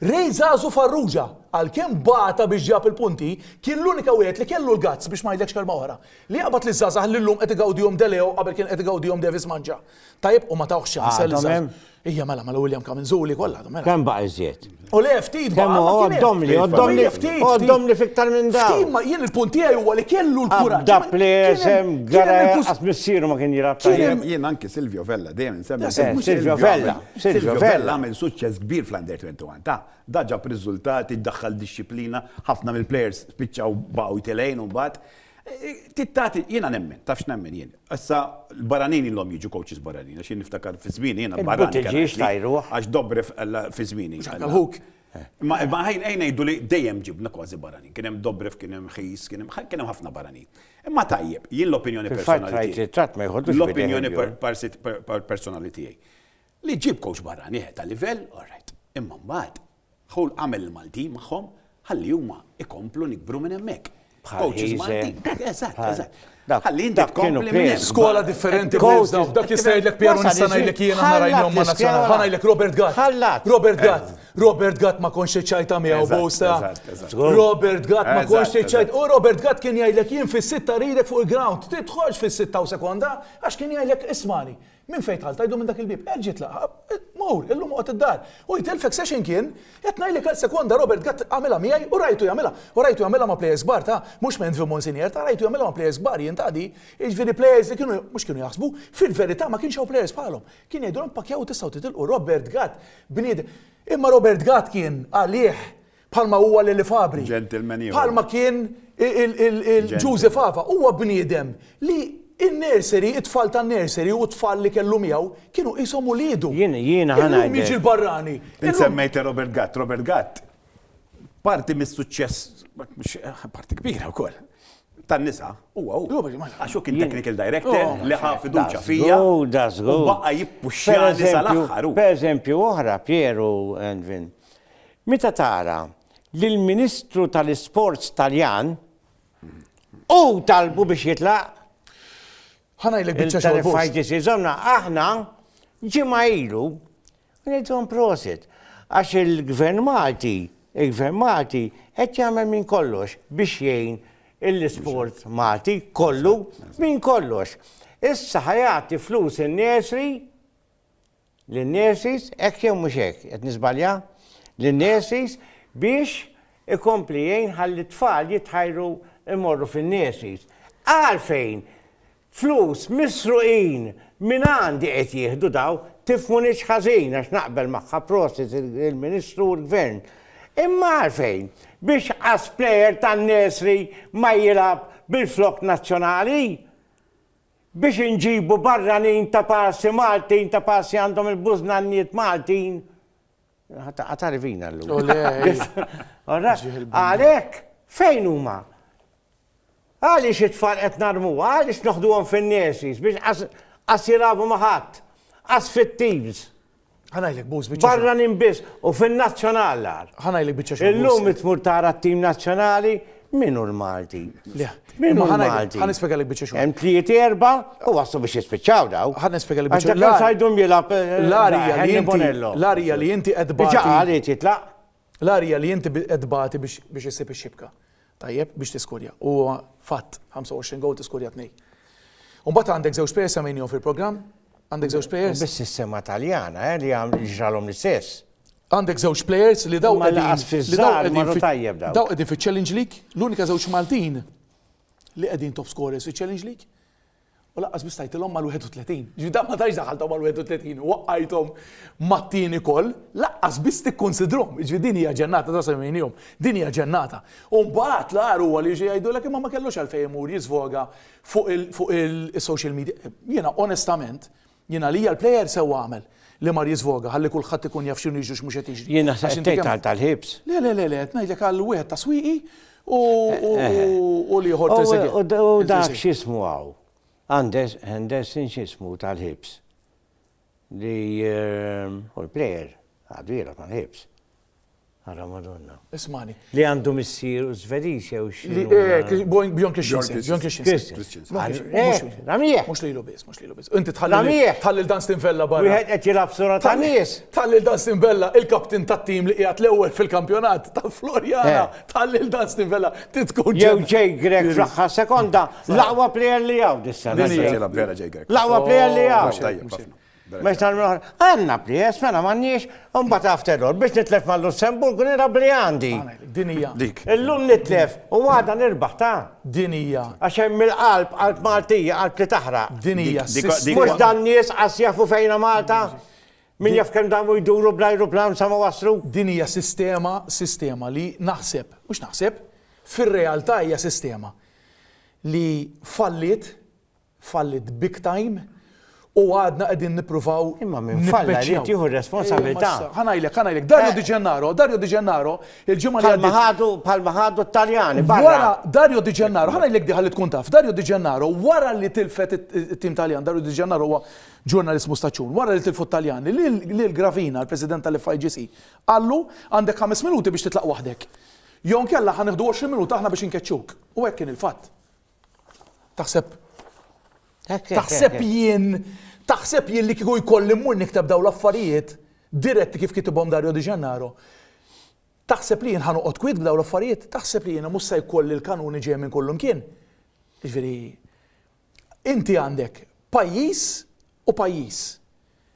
Ray Zazu Farrugia, għalkemm bata biex ġab il-punti, kien l-unika wieħed li kellu l-guts, biex ma ngħidlekx kelma oħra, li jaqbad liż-żgħażagħ li llum qed igawdihom De Leo qabel kien qed igawdihom Davis Mangia. Tajjeb u ma tawhx ċans. Għadhom hemm? Ija mela, mela William Kaminzuli kollha għadhom hemm. Kemm baqa' iżjed? U le ftit ma għoddom li, għoddom li, għoddom li fiktar minn da. Ftit ma jien il-punti għaj huwa li kellu l-kura. Da plesem, gara għas missiru ma kien jirab. Jien anki Silvio Vella, dejjem nsemmi. Eh, Silvio Vella, Silvio Vella għamil suċċess kbir fl-Under 21 ta' daġa b'riżultati, daħħal disċiplina, ħafna mill-plejers spiċċaw baw telejn u bat. Eh, tittati, jiena nemmen, tafx nemmen jien. Issa l-barranin ilhom jiġu coaches barranin, għax jien niftakar fi żmieni jiena barranin. Il-buttiġiex tajruh. Għax Dobrev fi żmieni. Ħuk. Ma ħajn ejn ngħidu li dejjem ġibna kważi barranin. Kien hemm Dobrev, kien hemm Ħis, kien hemm ħafna barranin. Imma tajjeb, jien l-opinjoni personali tiegħi. L-opinjoni personali tiegħi. Li ġib coach barrani ta' livell, all right. Imma mbagħad Dħul għamel il-Maltin magħhom ħalli huma ikomplu nikbru minn hemmhekk. Coaches Maltin. Eżatt, eżatt. Ħalli inti tkompli minn skola differenti b'dawk. Dak jista' jgħidlek Piero nista' ngħidlek jien aħna rajnhom ma' nazzjonali. Ħa ngħidlek Robert Gatt. Robert Gatt. Robert Gatt ma konx iċċajta miegħu bosta. Robert Gatt ma konx iċċajt. U Robert Gatt kien jgħidlek jien fis-sitta ridek fuq il-ground. Tidħolx fis-sitta u sekonda għax kien jgħidlek ismani. Minn fejn dħalt? Għidu minn dak il-bieb. Erġa' itlaq. Mur, illum oqgħod id-dar. U jitilfek sa xejn kien. Qed ngħidlek għal sekonda Robert Gatt għamilha miegħi u rajtu jagħmilha. U rajtu jagħmilha ma' plejers kbar ta', mhux Menzi u Monsinier ta', rajtu jagħmilha ma' plejers kbar jien ta' di. Jiġifieri plejers li kienu, mhux kienu jaħsbu, fil-verità ma kienx hawn plejers bħalhom. Kien jgħidulhom pakjaw u tistgħu titilqu. Robert Gatt, bniedem. Imma Robert Gatt kien, għalih, Bħalma huwa Lili Fabri. Gentleman ieħor. Bħalma kien il-Ġużi Fava. Huwa bniedem li in-nursery, it-tfal tan-nursery u t-tfal li kellu miegħu kienu qishom uliedu. Jien, jiena ħa ngħidlek. Illum jiġi l-barrani. Int semmejt Robert Gatt. Robert Gatt parti mis-suċċess, parti kbira wkoll, tan-nisa huwa hu. Għax hu kien technical director oh, li ħa fiduċja fija. U baqa' jippuxxjani sal-aħħar. Pereżempju oħra, Pieru Envin. Meta tara li l-Ministru tal-Isports Taljan hu talbu biex jitlaq, Ħa ngħidlek biċċa xogħol boost. Il-Telefighters iżomna aħna ġimgħa ilu ngħidhom prosit għax il-Gvern Malti, il-Gvern Malti qed jagħmel minn kollox biex jgħin l-isport Malti kollu minn kollox. Issa ħa jagħti flus in-nursery lin-nurses, hekk jew mhux hekk, qed niżbalja? lin-nurses biex ikompli jgħin ħalli t-tfal jitħajru jmorru fin-nurseries. Għalfejn flus misruqin minn għandi qed jieħdu dawn, tifhmunix ħażin għax naqbel magħha prosit il-Ministru u l-Gvern. Imma għalfejn biex qas plejer tan-nursery ma jilgħab bil-flokk nazzjonali? Biex inġibu barranin ta' passi Maltin ta' passi għandhom il-bużnannijiet Maltin. Għatarivina l-lum. Għalek, fejn huma? Għaliex it-tfal qed narmu, għaliex noħduhom fin-nurseries biex qas jilabu maħat, qas fit-teams. Ħanajlek buż biċċa. Barra nimbis u fin-nazzjonal lar. Ħanajlek biċċa xogħol. Illum tmur tara t-tim nazzjonali minu l-Malti. Minu l-Malti. Ħan ispjegalek biċċa xogħol. Hemm tliet erba' u waslu biex jispiċċaw daw. Ħan ispjegalek biċċa xogħol. Għax sajdum jilgħab l-arija li inti. L-arija li inti qed bagħti. Ġaqal jitlaq. L-arja li inti qed tbati biex issib ix-xibka. Tajjeb, biex tiskurja. Huwa fatt, 25 gowl tiskurja tnej. U mbagħad għandek żewġ players semmejnihom fil-programm, għandek żewġ players. Biss is-sema Taljana, eh, li għamlu ġralhom l-istess. Għandek żewġ players li daw qegħdin li daw qegħdin fit-tajjeb daw. Daw qegħdin fiċ-Challenge League, l-unika żewġ Maltin li qegħdin top scorers fiċ-Challenge League. U lanqas biss tajtilhom mal-31. Jiġifieri dan ma tantx daħħalthom mal-31 u waqqajthom mat-tieni koll, lanqas biss tikkunsidrhom. Jiġifieri din hija ġennata ta' sewmien jum. Din hija ġennata. U mbagħad l-agħar huwa li jiġu jgħidulek imma ma kellux għalfejn imur jiżvoga fuq il-social media. Jiena onestament, Jien għalija l-player sewwa għamel li mar jiżvoga ħalli kulħadd ikun jaf x'inhu jiġri u x'mhux qed jiġri. Jien naħseb qed tgħid għal tal-ħibs. Le le le le qed ngħidlek għal wieħed ta' swieqi u u l-ieħor Trezeguet. U d- u dak x'ismu hawn? Andes- Henderson x'ismu tal-ħibs. Li hu l-player għadu jilgħab mal-ħibs. Ara Madonna. Ismani. Li għandu missier u Svediż jew xi. Li hekk eh, Bjorn Christensen. Bjorn Christensen. Ramieħ. Mhux lilu biss, mhux lilu biss. Inti tħalli dan Stinvella barra. Wieħed qed jilgħab sura ta' nies. Tħalli dan Stinvella il-kaptin tat-tim li qiegħed l-ewwel fil-kampjonat ta' Florjana. Eh. Tħalli dan Stinvella titkun. Jew ġej Grek fl-aħħar sekonda, l-aqwa plejer li hawn dis-sena. L-aqwa plejer li hawn. Mhux tal oħra, għandna prijess, mela m'għandniex, u mbagħad after all, biex nitlef mal-Lussemburg nirab li għandi. Din hija. Dik. Illum nitlef u għada nirbaħ ta'. Din hija. Għax hemm il-qalb, qalb Maltija, qalb li taħraq. Din hija. Mhux dan nies qas jafu fejna Malta? Min jaf kemm damu jduru bl-ajruplan sa ma waslu? Din hija sistema, sistema li naħseb, mhux naħseb, fir-realtà hija sistema li fallit fallit big time u għadna qegħdin nippruvaw. Imma min falla jrid jieħu r-responsabilità. Ħa ngħidlek, ħa ngħidlek, Dario eh. Di Gennaro, Dario Di Gennaro, il-ġimgħa li għaddiet. Ħadu bħalma ħadu t-Taljani barra. Dario Di Gennaro, ħa ngħidlek diħa li tkun taf, Dario Di Gennaro wara li tilfet it-tim Taljan, Dario Di Gennaro huwa ġurnalismu staċun, wara li tilfu Taljani, li l-Gravina, l-President tal-FIGC, għallu għandek 5 minuti biex titlaq waħdek. Jon kella ħaneħdu 20 minuta aħna biex inkeċċuk. U hekk kien il-fatt. Taħseb Taħseb jien, taħseb jien li kieku jkolli mmur niktab daw l-affarijiet diretti kif kitibhom Dario Di Gennaro. Taħseb li jien ħanoqgħod kwid b'daw l-affarijiet, taħseb li jiena mhux se jkolli l-kanuni ġej minn kullum kien. Ġifieri, inti għandek pajjiż u pajjiż.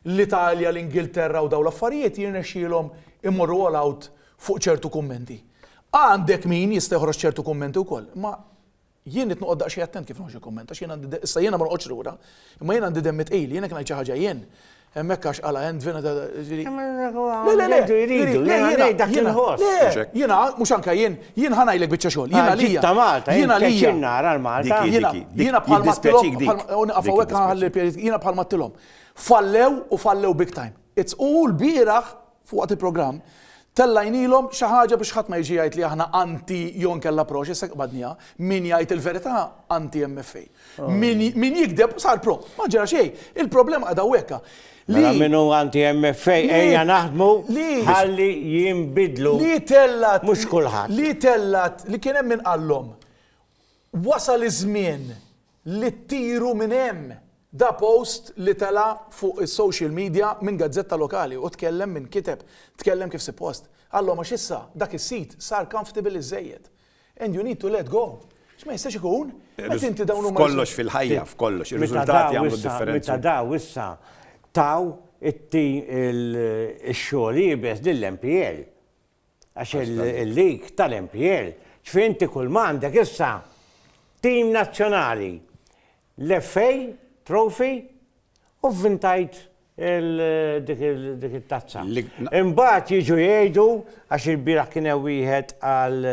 l-Italja, l-Ingilterra u dawn l-affarijiet jirnexxielhom imorru all out fuq ċertu kummenti. Għandek min jista' joħroġ ċertu kummenti wkoll, imma jien irid noqgħod daqsxejn attent kif noħroġ il-kumment għax jien għandi de, issa jiena ma noqgħodx lura, imma jien għandi demmi tqil, jien jekk ngħid xi ħaġa jien, hemmhekk għax qala Endvin ta' ġifieri. Le, le, le, Jridu, jridu, le, jiena ngħid dak li jiena- nħoss. le, Mhux hekk. jiena mhux anke jien, jien ħa ngħidlek biċċa xogħol, jiena Għal ġid għalija. ta' Malta, jien Jiena għalija. pjaċir nara l-Malta. Dik hi, Jiena dik hi, dik- jiena bħal jiddispjaċik mattilhom, dik, bħal- u naqaf dik hawnhekk jiddispjaċik. ħalli pjeri- jiena bħal mattilhom. Fallew u fallew big time. It's u lbieraħ waqt il-programm tellajnilhom xi ħaġa biex ħadd ma jiġi jgħid li aħna anti jew inkella pro x'issa qbadniha. Min jgħid il-verità anti MFA. Min min jigdeb sar pro. Ma ġara xejn. Il-problema qiegħda hawnhekka. Mela min hu anti MFA ejja naħdmu ħalli jinbidlu Li tellat mhux kulħadd. Li tellat li kien hemm min qallhom wasal iż-żmien li ttiru minn hemm! Da post li tela' fuq is-social media minn gazzetta lokali u tkellem min kiteb, tkellem kif sippost. Għallhom għax issa dak is-sit sar comfortable iżżejjed. And you need to let go. Għax ma jistax ikun, meta inti dawn huma. F'kollox fil-ħajja, f'kollox, ir-riżultati jagħmlu d-differenza. Meta daw issa taw it-tim ix-xogħol iebes lill-MPL. Għax il-lig tal-MPL, ġifieri inti kull ma għandek issa tim nazzjonali, l-FA Trophy u vvintajt dik it-tazza. Imbagħad jiġu jgħidu għax il-bieraħ kien hemm wieħed għal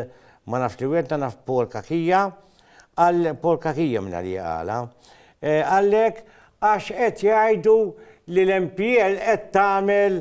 ma nafx li wieħed naf Paul Kakija, għal Paul Kakija minn li għala. Eh, għalhekk għax qed jgħidu li l-MPL qed tagħmel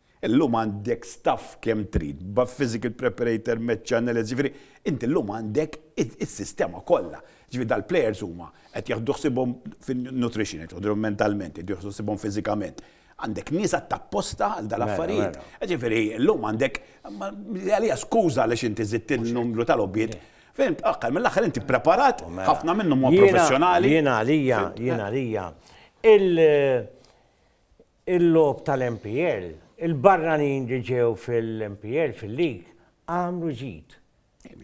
Illum għandek staff kemm trid, b'għadd physical preparator, match analyst, jiġifieri inti llum għandek is-sistema kollha. Jiġifieri dal-plejers huma qed jaħdu ħsiebhom fin-nutrition, qed joħduhom mentalment, qed joħdu ħsiebhom fiżikament. Għandek nies għadd apposta għal dal-affarijiet. Jiġifieri llum għandek, għalija skuża għaliex inti żidt in-numru ta' logħbiet. Fhimt? Aħħar mill-aħħar inti ppreparat, ħafna minnhom huma professjonali. Jiena għalija, jiena għalija, il-logħob tal-MPL, il-barranin li ġew fil-MPL fil-lig għamlu ġid.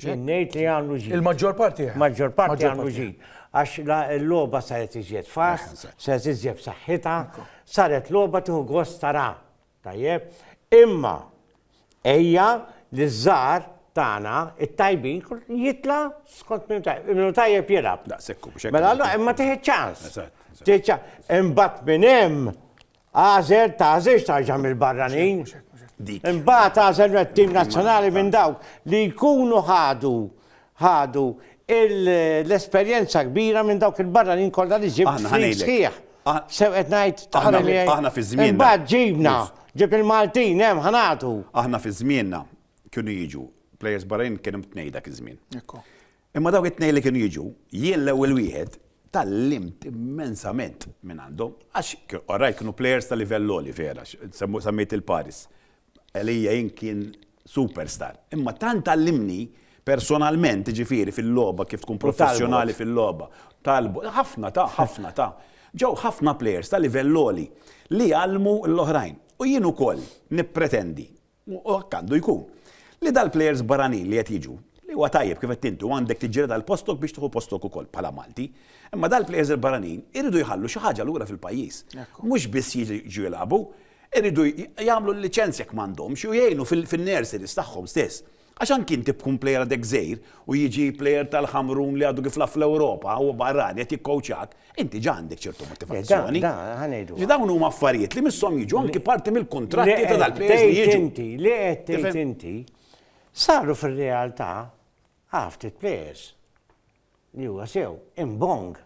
Jien ngħid li għamlu ġid. Il-maġġor parti. Maġġor parti għamlu ġid. Għax l-logħba saret iżjed fas, saret iżjed b'saħħitha, saret logħba tieħu gost tara. Tajjeb, imma Ejja li ż-żgħar tagħna t-tajbin jitla' skont min tajjeb. Min tajjeb jilgħab. Daqshekk hu biex Mela allura imma tieħed ċans. Imbagħad minn hemm għażel tażilx tarġa' mill-barranin. Imbagħad għażel t-tim nazzjonali minn dawk li jkunu ħadu ħadu l-esperjenza kbira minn dawk il-barranin kollha li ġibt f'ħin sħiħ. Sew qed ngħid, taqbel miegħi? Aħna fi żmienna. Imbagħad ġibna, ġibt il-Maltin hemm ħa nagħtu. Aħna fi żmienna kienu jiġu plejers barranin kien hemm tnejn dak iż-żmien. Imma dawk it-tnejn li kienu jiġu, jien l-ewwel wieħed tgħallimt immensament minn għandhom għax orajt kienu plejers ta' livell għoli vera, semmejt il-Paris. Għalija jien kien superstar. Imma tant għallimni personalment, jiġifieri fil-logħba kif tkun professjonali fil-logħba. Talbot. Ħafna ta, ħafna ta. Ġew ħafna plejers ta' livell għoli li għallmu l-oħrajn. U jien ukoll nippretendi, u hekk għandu jkun, li dal-plejers barranin li qed jiġu, li huwa tajjeb kif għedt inti u għandek tiġġieled għal postok biex tieħu postok ukoll bħala Malti, imma dal-plejers il-barranin iridu jħallu xi ħaġa lura fil-pajjiż. Mhux biss jiġu jilagħbu, Iridu jagħmlu l-liċenzja jekk m'għandhomx u jgħinu fin-nurseries tagħhom stess. Għax anki inti b'tkun plejer għadek żgħir u jiġi plejer tal-Ħamrun li għadu kif lagħab fl-Ewropa, huwa barrani qed jikkowċjak, inti ġa għandek ċertu motivazzjoni. Le, da, ħa ngħidu. Li dawn huma affarijiet li misshom jiġu anki parti mill-kuntratti ta' dal-plejers li jiġu. Li qed tgħid inti saru fir-realtà għaw ftit plejers li huwa sew imbong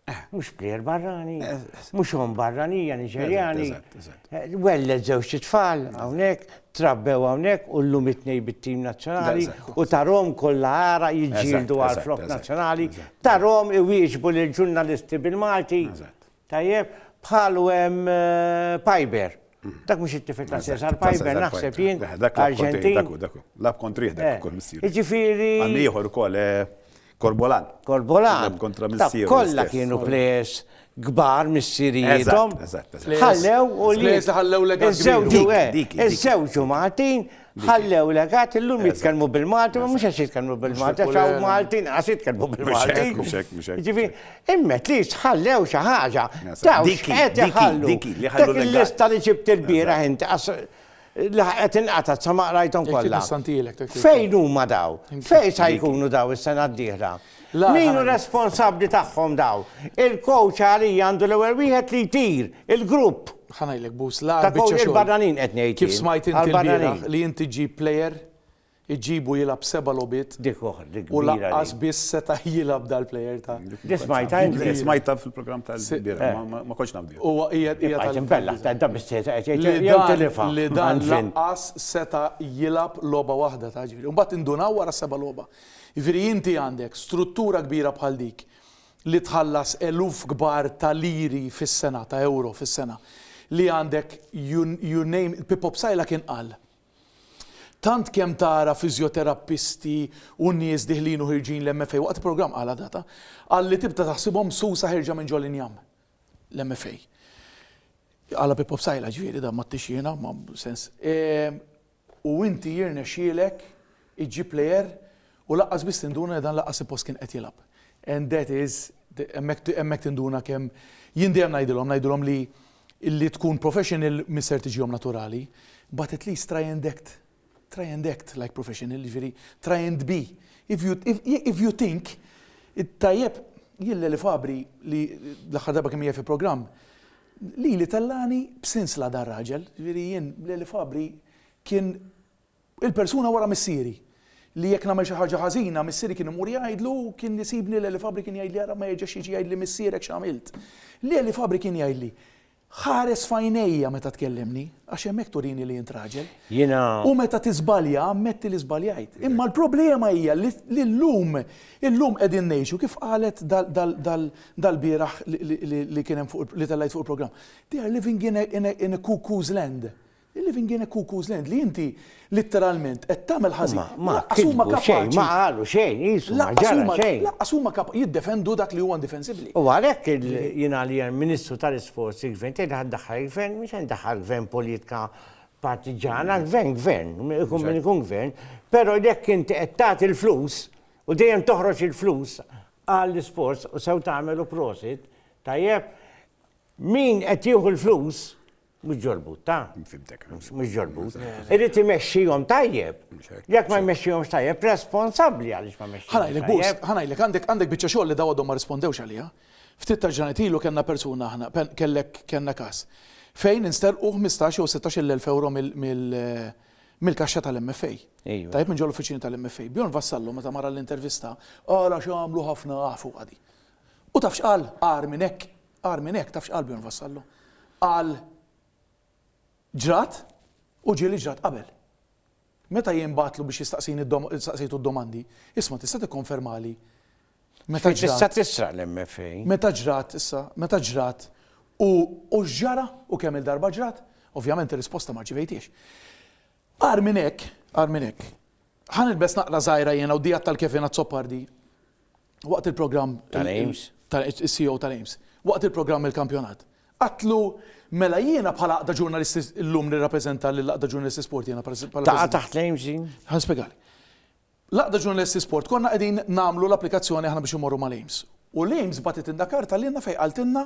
Eh. Mhux plejer barrani, eh, eh, mhux hom barranija Niġerjani. Welled żewġ tfal hawnhekk, trabbew hawnhekk u llum it-tnej bit-tim nazzjonali u tarom kollha ara jiġġieldu għal flok nazzjonali, tarom iwieġbu lil ġurnalisti bil-Malti. Tajjeb, bħalu hemm Piper. Dak mhux it-tifel ta' Cesar Piper, naħseb jien. Dak Arġentin. Dak dak lab kontri dak eh, ukoll missier. Jiġifieri. Għan ieħor ukoll eh, Korbolan. Korbolan. Kontra missier. Kollha kienu players kbar missirietom. Ħallew u li. Ħallew l Iż-żewġu eh, iż-żewġu Martin Ħallew legat illum jitkellmu bil-Malti, ma mhux għax jitkellmu bil-Malti, għax hawn Malti nqas jitkellmu bil-Malti. Ġifi, immet li tħallew xi ħaġa. Dik qed iħallu. Dak il-lista li ġibt il-bieraħ inti qed inqata' sa ma qrajthom kollha. Fejn huma daw? Fejn sa jkunu daw is-sena d-dieħla? Min hu responsabbli tagħhom dawn? Il-coach għalija għandu l-ewwel wieħed li jtir il-grupp. Ħa ngħidlek Bus, l-agħar biċċa xogħol. Il-barranin qed ngħid. Kif smajt inti l-bieraħ li inti ġġib player, iġġibu jilgħab seba' logħbiet. Dik oħra, dik oħra. U lanqas biss seta' jilgħab dal-player ta'. Dik smajtha inti. Smajtha fil-programm tal-bieraħ, ma kontx naf bih. Huwa hija hija tal. Imbella, dan biss seta' qed jgħid. Li dan lanqas seta' jilgħab logħba waħda ta' ġifieri. Imbagħad indunaw wara seba' logħba. Jiġifieri inti għandek struttura kbira bħal dik li tħallas eluf kbar ta' liri fis-sena, ta' ewro fis-sena, li għandek you, you name it, Pippo Psaila kien qal, Tant kemm tara fiżjoterappisti u nies diħlin u ħirġin l-MFA, waqt il-programm qalha data, qal li tibda taħsibhom msusa ħerġa minn ġol-injam, l-MFA. Qalha Pippo Psaila ġifieri dan m'għadtix jiena, ma sens. E, u inti jirnexxielek iġġib plejer u lanqas biss tinduna li dan lanqas suppost kien qed jilgħab. And that is hemmhekk tinduna kemm jien dejjem ngħidilhom ngħidilhom li li tkun professional mhi ser tiġihom naturali but at least try and act try and act like professional jiġifieri try and be if you if you think tajjeb jien Leli Fabri li l-aħħar darba kemm hija fi programm Lili tellagħni b'sinsla dan raġel, ġifieri jien Leli Fabri kien il-persuna wara missieri, li jekk nagħmel xi ħaġa ħażina missieri kien imur jgħidlu u kien isibni Leli Fabri kien jgħidli ara ma jerġax jiġi jgħidli missierek x'għamilt. Leli Fabri kien jgħidli, Ħares f'għajnejja meta tkellimni, għax hemmhekk turini li int raġel. Jiena. U meta tiżbalja ammetti li żbaljajt. Imma l-problema hija li llum illum qegħdin ngħixu kif qalet dal-bieraħ li kien hemm fuq li tellgħet fuq il-programm. They are living in a in a in a cuckoo's land. They're living in a cuckoo's land li inti litteralment qed tagħmel ħażin. Huma ma kitbu xejn, ma qalu xejn, qisu ma ġara xejn. Lanqas huma kapaċi jiddefendu dak li huwa indifensibbli. U għalhekk jiena li hemm Ministru tal-Isports il-Gvern tgħid ħa ddaħħal il-Gvern, mhux se ndaħħal Gvern politika partiġana, Gvern Gvern, ikun min ikun Gvern, però jekk inti qed tagħti l-flus u dejjem toħroġ il-flus Għall isforz u sew tagħmel u prosit. Tajjeb. Min qed jieħu l-flus mhux ġolbut, ta? Fimtek. Mhux ġolbut. Irid imexxihom tajjeb. Jekk ma jmexxihomx tajjeb, responsabbli għaliex ma mexxihom. Ħanajlek bus, ħanajlek għandek għandek biċċa xogħol li dawadhom ma rispondewx għaliha. Ftit ta' ġranet ilu kellna persuna aħna, kellek kellna każ. Fejn insterqu 15 jew 16 il-1000 euro mill mill-kaxxa tal-MFA. Tajjeb minn ġol-uffiċini tal-MFA. Bjorn Vassallo meta mar għall-intervista qal għax għamlu ħafna ah fuqha di. U taf x'qal agħar minn hekk, agħar minn hekk taf x'qal Bjorn Vassallo? Qal ġrat u ġie li ġrat qabel. Meta jien bagħtlu biex jistaqsini staqsejtu d-domandi, isma' tista' tikkonfermali Meta ġrat. Tista' tisraq l-MFA. Meta ġrat, issa, meta ġrat u u x'ġara u kemm-il darba ġrat? Ovvjament ir-risposta ma rċivejthiex. Agħar minn hekk, agħar minn hekk, ħa nilbes naqra żgħira jiena u Dia tal-Kevin Azzopardi waqt il-programm Tal-AIMS. tal-CEO tal-AIMS. Waqt il-programm Il-Kampjonat. Għadtlu, Mela jiena bħala Għaqda Ġurnalisti llum nirrappreżenta lill-Għaqda Ġurnalisti Sport jiena bħala Taqa' taħt l-AIMS din? Ħa nispjegali. L-Għaqda Ġurnalisti Sport konna qegħdin nagħmlu l-applikazzjoni aħna biex immorru mal-AIMS. U l-AIMS bagħtet inna karta lilna fejn qaltilna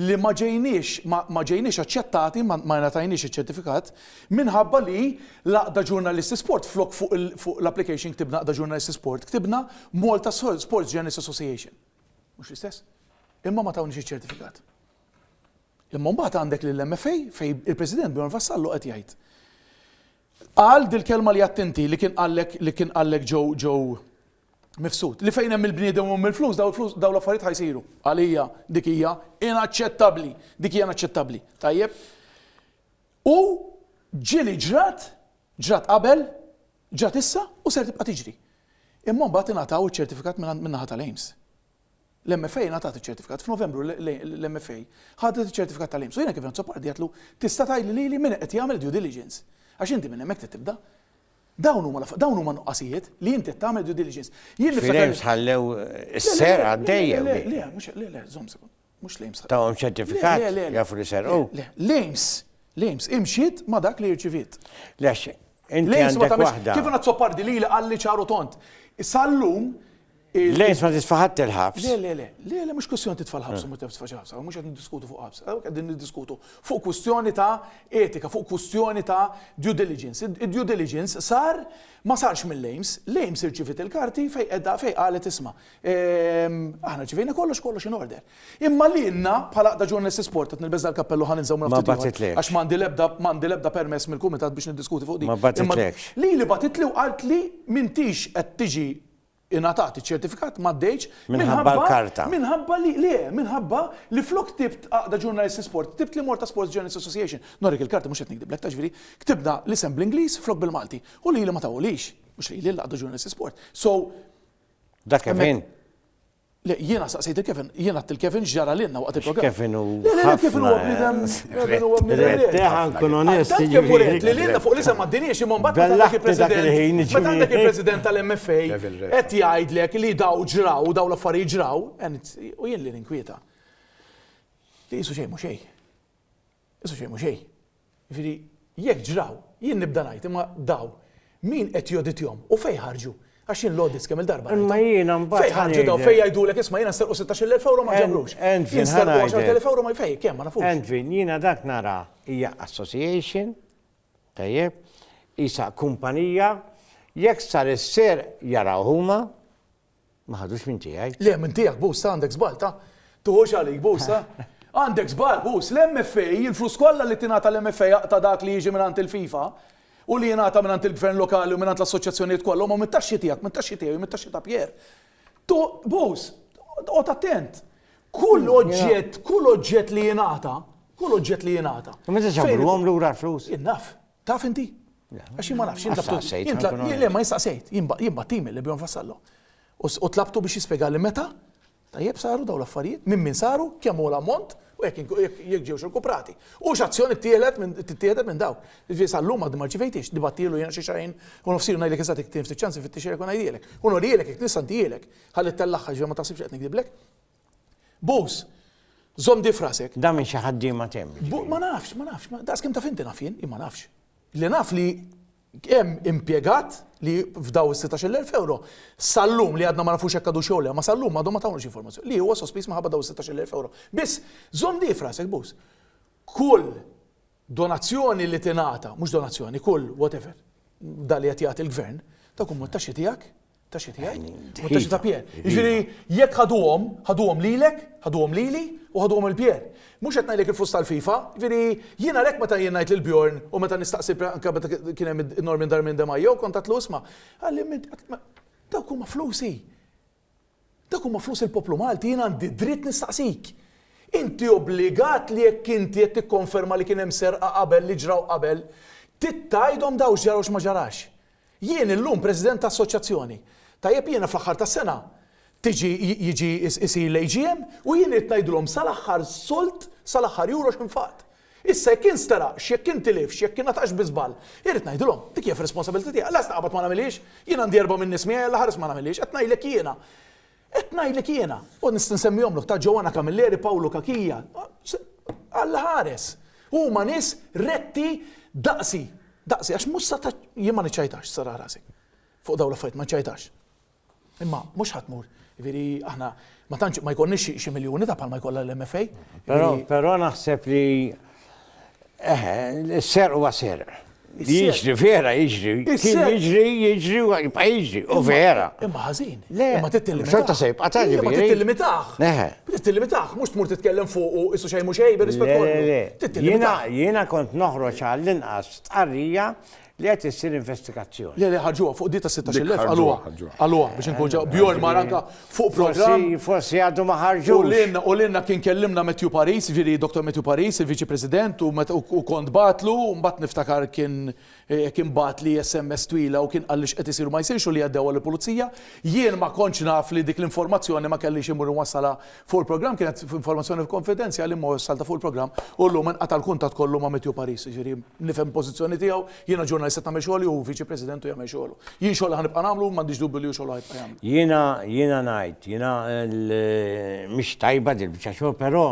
li ma ġejniex ma ma ġejniex aċċettati, ma ma ngħatajniex iċ-ċertifikat, minħabba li l-Għaqda Ġurnalisti Sport flok fuq il fuq l-application ktibna Għaqda Ġurnalisti Sport, ktibna Malta Sports Journalists Association. Mhux l-istess? Imma ma tawniex iċ-ċertifikat. Imma mbagħad għandek lill-MFA fejn il-President Bjorn Vassallo qed jgħid Qal dil-kelma li għedt inti, li kien qallek, li kien qallek Joe, Joe Mifsud, li fejn hemm il-bniedem u hemm il-flus, dawn il-flus, dawn l-affarijiet ħa jsiru. Għalija dik hija inaċċettabbli, dik hija inaċċettabbli. Tajjeb? U ġieli ġrat, ġrat qabel, ġrat issa u ser tibqa' tiġri. Imma mbagħad ingħataw iċ-ċertifikat minn naħa tal-AIMS. L-MFA ngħatat iċ-ċertifikat. F'Novembru l-MFA ħadet iċ-ċertifikat tal-IMSS u jiena kif Azzopardi għedtlu tista' tgħidli lili min qed jagħmel due diligence? Għax inti minn hemmhekk trid tibda. Dawn huma dawn huma nuqqasijiet li inti qed tagħmel due diligence. Jien niftakar. Fil-IMSS ħallew is-serqa għaddejja. Le, le, le, le, mhux le, le, żomm sekond. Mhux l-AIMS. Tawhom ċertifikat? Le, le, le. Jafu li serqu? Le, l-AIMS. L-AIMS imxiet ma' dak li rċiviet. Le, inti għandek waħda. Kif għandha tsopardi li li qalli ċaru tont. Sallum. L-AIMS ma titfa' ħadd il-ħabs. Le, le, le. Le, le, mhux kwistjoni titfa' l-ħabs u ma titfa' ħabs. Mhux qed niddiskutu fuq ħabs. Qegħdin niddiskutu fuq kwistjoni ta' etika, fuq kwistjoni ta' due diligence. Id-due diligence sar ma sarx mill-AIMS. L-AIMS irċiviet il-karti fejn qiegħda fejn qalet isma'. Aħna ċivejna kollox kollox in order. Imma lilna bħala Aqda Ġurnalisti Sport qed nilbeż dal-kappell u ħa ninżaw minn ftit ieħor għax m'għandi l-ebda m'għandi l-ebda permess mill-kumitat biex niddiskuti fuq din. Ma batitlekx. Lili batitli u qaltli m'intix qed tiġi ingħatat iċ-ċertifikat m'għaddejtx minħabba l-karta. Minħabba li le, minħabba li flok ktibt Aqda Ġurnalisti Sport, ktibt l-Imorta Sports Journalists Association. Norik il-karta mhux qed nikdiblek ta' ġifieri, ktibna l-isem bl-Ingliż flok bil-Malti u lili ma tawhulix. Mhux lili l-Aqda Ġurnalisti Sport. So, Dak Kevin? Le, jiena saqsejt il-Kevin, jiena għat il-Kevin ġara l-inna waqt il-program. Kevin u. Le, le, Kevin u għabidem. Kevin u għabidem. Teħan kun onest. Kevin u għabidem. Li l-inna fuq l-isem għaddinix imman bat għandak il-president. Bat għandak il-president tal-MFA. Et jgħidlek li daw ġraw, daw l-affari ġraw. U jien li ninkwieta. Li jisu xej, mu xej. Issa xejn mhu xejn. Jiġifieri jekk ġraw, jien nibda ngħid, imma dawn min qed joditjhom u fejn ħarġu? Għax jien l-audits kemm-il darba rajthom. Imma jiena mbagħad. Fejn ħarġu dawn fejn jgħidulek isma' jiena nsterqu 16,000 ewro ma ġabrux. Jien nsterqu 10,000 ewro ma fejn kemm ma nafux. Endvin, jiena dak nara hija association, tajjeb, qisha kumpanija, jekk sar is-serq jaraw huma, Ma ħadux minn tiegħi. Le, minn tiegħek Bus, ta' għandek żball, ta'. Tuħux għalik Bus, ta'. Għandek żball Bus, l-MFA, il-flus kollha li tingħata l-MFA jaqta' dak li jiġi mingħand il-FIFA u li jingħata mingħand il-Gvern Lokali u mingħand l-assoċjazzjonijiet kollha huma mit-taxxi tiegħek, mit-taxxi tiegħi u mit-taxxi ta' Pierre. Tu, Bus, qgħod attent. Kull oġġett, kull oġġett li jingħata, kull oġġett li jingħata. Meta ġabruhom lura l-flus? Innaf. Taf inti? Għax jien ma nafx, jien tlabtu. Staqsejt, jien tlab- nkun jien- le, ma jistaqsejt, jien ba- jien battimi li bjom fassallu. U s- U tlabtu biex jispjegali meta, tajjeb saru daw l-affarijiet, minn min saru, kemm huwa l-ammont, u jekk ink- jekk jekk ġewx irkuprati. U x'azzjoni ttieħlet minn tittieħdet minn dawk. Jiġifieri sal-lum għad ma rċivejtiex, nibattilu jien xi xahrejn u nofs ilu ngħidlek eżatt jekk tien ftit ċans infittixhielek u ngħidhielek. U norihielek jekk nista' ntihielek. Ħalli ttellagħha ġifieri ma taħsibx li qed nikdiblek. Bus, zom di frasek. Da minn xi ħaddiema temm. Ma nafx, ma nafx, daqs kemm taf inti naf jien, ma nafx. Li naf li hemm impjegat li f'daw is-16,000 euro sal-lum li għadna ma nafux hekk għadu xogħol ma sal-lum għadhom ma tawniex informazzjoni li huwa sospiż maħabba daw is-16,000 euro. Biss żomm di frasek bus. Kull donazzjoni li tingħata, mhux donazzjoni, kull whatever, dali qed jagħti l-gvern, ta' kum taxxi tiegħek, Taxxi tiegħi, u t-taxxi ta' Pier. Jiġifieri jekk ħaduhom, ħaduhom lilek, ħaduhom lili u ħaduhom lil Pier. Mhux qed ngħidlek il-flus tal-FIFA, jiġifieri jien għalhekk meta jien ngħid lil Bjorn u meta nistaqsi anke meta kien hemm in-normi ndar minn De Maio kont għedtlu isma', għalli dawk huma flusi. Dawk huma flus il-poplu Malti jien għandi dritt nistaqsik. Inti obbligat li jekk inti qed tikkonferma li kien hemm serqa qabel li ġraw qabel, titgħidhom daw x'ġara u x'ma ġarax. Jien illum President ta' Assoċjazzjoni. Tajjeb jiena fl-aħħar tas-sena tiġi jiġi jsir l-AGM u jien irrid ngħidilhom sal-aħħar sold, sal-aħħar euro x'infaqt. Issa jekk jien steraqx, jekk jien tilifx, jekk ingħataqx bi żball, irrid ngħidilhom. Dik hija fir-responsabilità tiegħi. Lest naqbad ma nagħmilhiex. Jien għandi erbgħa min-nies miegħi, Alla ħares ma nagħmilhiex. Qed ngħidlek jiena. Qed ngħidlek jiena, u nista' nsemmihomlok ta' Joanna Camilleri, Pawlu Cachia, Alla ħares! Huma nies retti daqsi, daqsi, għax mhux sa ta' jien ma niċċajtax, sara rasi. Fuq dawn l-affarijiet ma niċċajtax. Imma mhux ħadd mur, jiġifieri aħna ma tantx ma jkollniex xi miljuni ta' bħalma jkollha l-MFA. Però naħseb li Eħe, s-serq huwa serq. Jiġri, vera jiġri. Kien jiġri, jiġri, jibqa jiġri. U vera. Imma ħażin. Le, ma titillimitax. Xorta se jibqa ta' ġifieri. Ma titillimitax. Eħe. Titillimitax, mhux tmur titkellem fuq u issu xejn mhux xejn, bir-rispett kollu. Jiena kont noħroġ għall-inqas tqarrija Li qed issir investigazzjoni. Le, le, ħarġuha, fuq di tas-sittax-il elf qalluha. Qalluha biex inkun ġa, Bjorn mar anka fuq programm. Forsi, forsi għadu ma ħarġux. U lilna, u lilna kien kellimna Matthew Paris, jiġifieri Dottor Matthew Paris, il-Viċi President, u meta u kont bagħatlu, mbagħad niftakar kien kien bagħatli SMS twila u kien qalli x'qed isir u ma jsirx u li għaddewha lill-Pulizija. Jien ma kontx naf li dik l-informazzjoni ma kellix immur inwassalha Fuq il-programm kienet informazzjoni konfidenzjali imma wassal ta' fuq il-programm u llum inqata' l-kuntatt kollu ma' Matthew Paris, jiġifieri nifhem il-pożizzjoni tiegħu, jiena ġurnalist qed nagħmel xogħli u hu Viċi President u jagħmel xogħlu. Jien xogħli ħa nibqa' nagħmlu u m'għandix dubju li hu xogħlu ħa jibqa' jagħmlu. Jiena jiena ngħid, jiena mhix tajba din il-biċċa xogħol però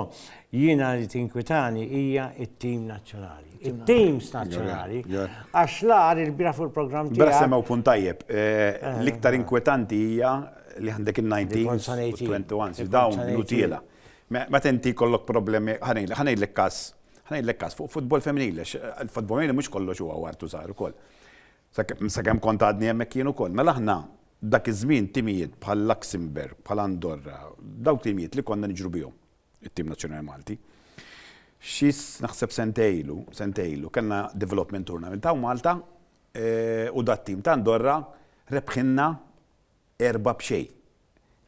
jiena li tinkwitani hija t-tim nazzjonali. It-teams nazzjonali għax l-agħar ilbieraħ fuq il-programm tiegħek. L-bieraħ semgħu punt tajjeb. L-iktar inkwetanti hija li għandek in-19s u t-21s, dawn l-utiela. Meta inti jkollok problemi, ħa ngħidlek każ, ħa ngħidlek każ fuq futbol femminili, għax il-futbol femminili mhux kollox huwa għar tużar ukoll. Sakemm kont għadni hemmhekk jien ukoll. Mela aħna dak iż-żmien timijiet bħal Luxembourg, bħal Andorra, dawk timijiet li konna niġru bihom, it-tim nazzjonali Malti. Xi naħseb sentejn ilu, sentejn ilu, kellna development tournament hawn Malta u dat-tim ta' Andorra rebħilna Erba' b'xejn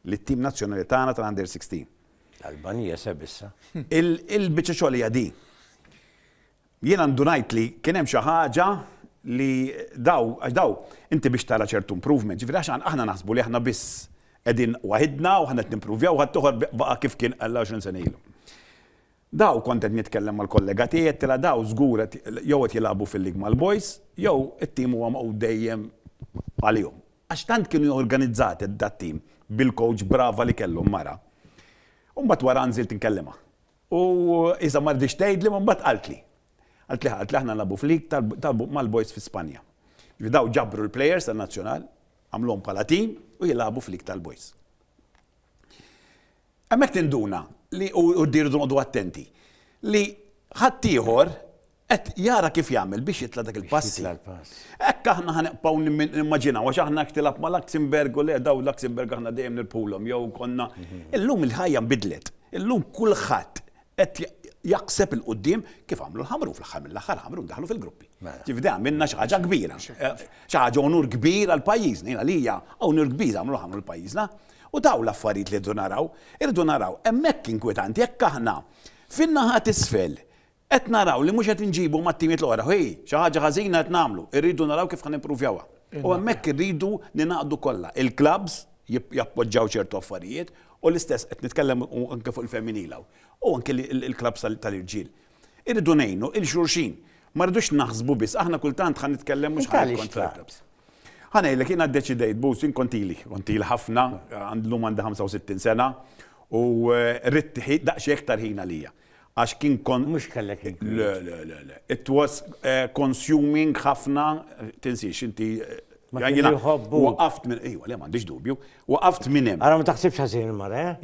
lit-tim nazzjonali tagħna tal-Under 16. L-Alban jeseb issa. Il-biċċa xogħol hija din. Jien għandu ngħid li kien hemm xi ħaġa li daw, għax daw, inti biex tara ċertu improvement, ġifieri għax aħna naħsbu li aħna biss qegħdin waħidna u aħna qed nimpruvjaw u ħaddieħor baqa' kif kien għal 20 sena ilu. Daw, kont qed nitkellem mal-kollega tiegħi, għedtilha daw żgur qed jew qed jilagħbu fil-league mal-boys jew it-team huwa magħqud dejjem għalihom. Għax tant kienu jorganizzat dat-team bil-coach brava li kellhom mara. U mbagħad wara nżilt nkellimha. U iżda ma riditx tgħidli imma mbagħad qaltli. Qaltli ħa, qaltli aħna nilagħbu f'league mal-boys fi Spanja. Jiġifieri daw ġabru l-players tan-nazzjonal, għamluhom bħala team u jilagħbu f'league tal-boys. Hemmhekk tinduna li, u rridu noqogħdu attenti, li ħaddieħor qed jara kif jagħmel biex jitla' dak il-passi. Hekk aħna ħa nibqgħu nimmaġinaw, għax aħna hekk tilgħab ma' Luxembourg u le dawn Luxembourg aħna dejjem nirbħulhom jew konna. Illum il-ħajja nbidlet. Illum kulħadd qed jaħseb 'il quddiem kif għamlu l-ħamrun, fl-aħħar mill-aħħar l-ħamrun daħlu fil-gruppi. Ġifieri dejjem għamilna xi ħaġa kbira. Xi ħaġa unur kbir għal pajjiżna, jiena għalija unur kbir għamlu l-ħamrun għal pajjiżna. U dawn l-affarijiet li rridu naraw, irridu naraw, hemmhekk inkwetanti, jekk aħna fin-naħa t'isfel qed naraw li mhux qed inġibu mat-timiet l-oħra, hi, xi ħaġa ħażina qed nagħmlu, irridu naraw kif ħa nimpruvjawha. U hemmhekk irridu ningħaqdu kollha, il-klabbs jappoġġaw ċertu affarijiet u l-istess qed nitkellem anke fuq il-femminil hawn, u anke l-klabbs tal-irġiel. Irridu ngħinu il xulxin. Ma rridux naħsbu biss, aħna kultant ħa nitkellem mhux ħa nikkontra. Ħa ngħidlek, jiena ddeċidejt, Buz, jien kont ili, kont ili ħafna, llum għandi 65 sena, u ridt daqsxejn iktar ħin għalija. Għax kien kont. Mhux kellek il Le, le, le, le. It was consuming ħafna, tinsiex inti. Jiena waqaft minn, ejwa, le m'għandix dubju, Waqaft minn hemm. Ara ma taħsibx ħażin il-mara, eh?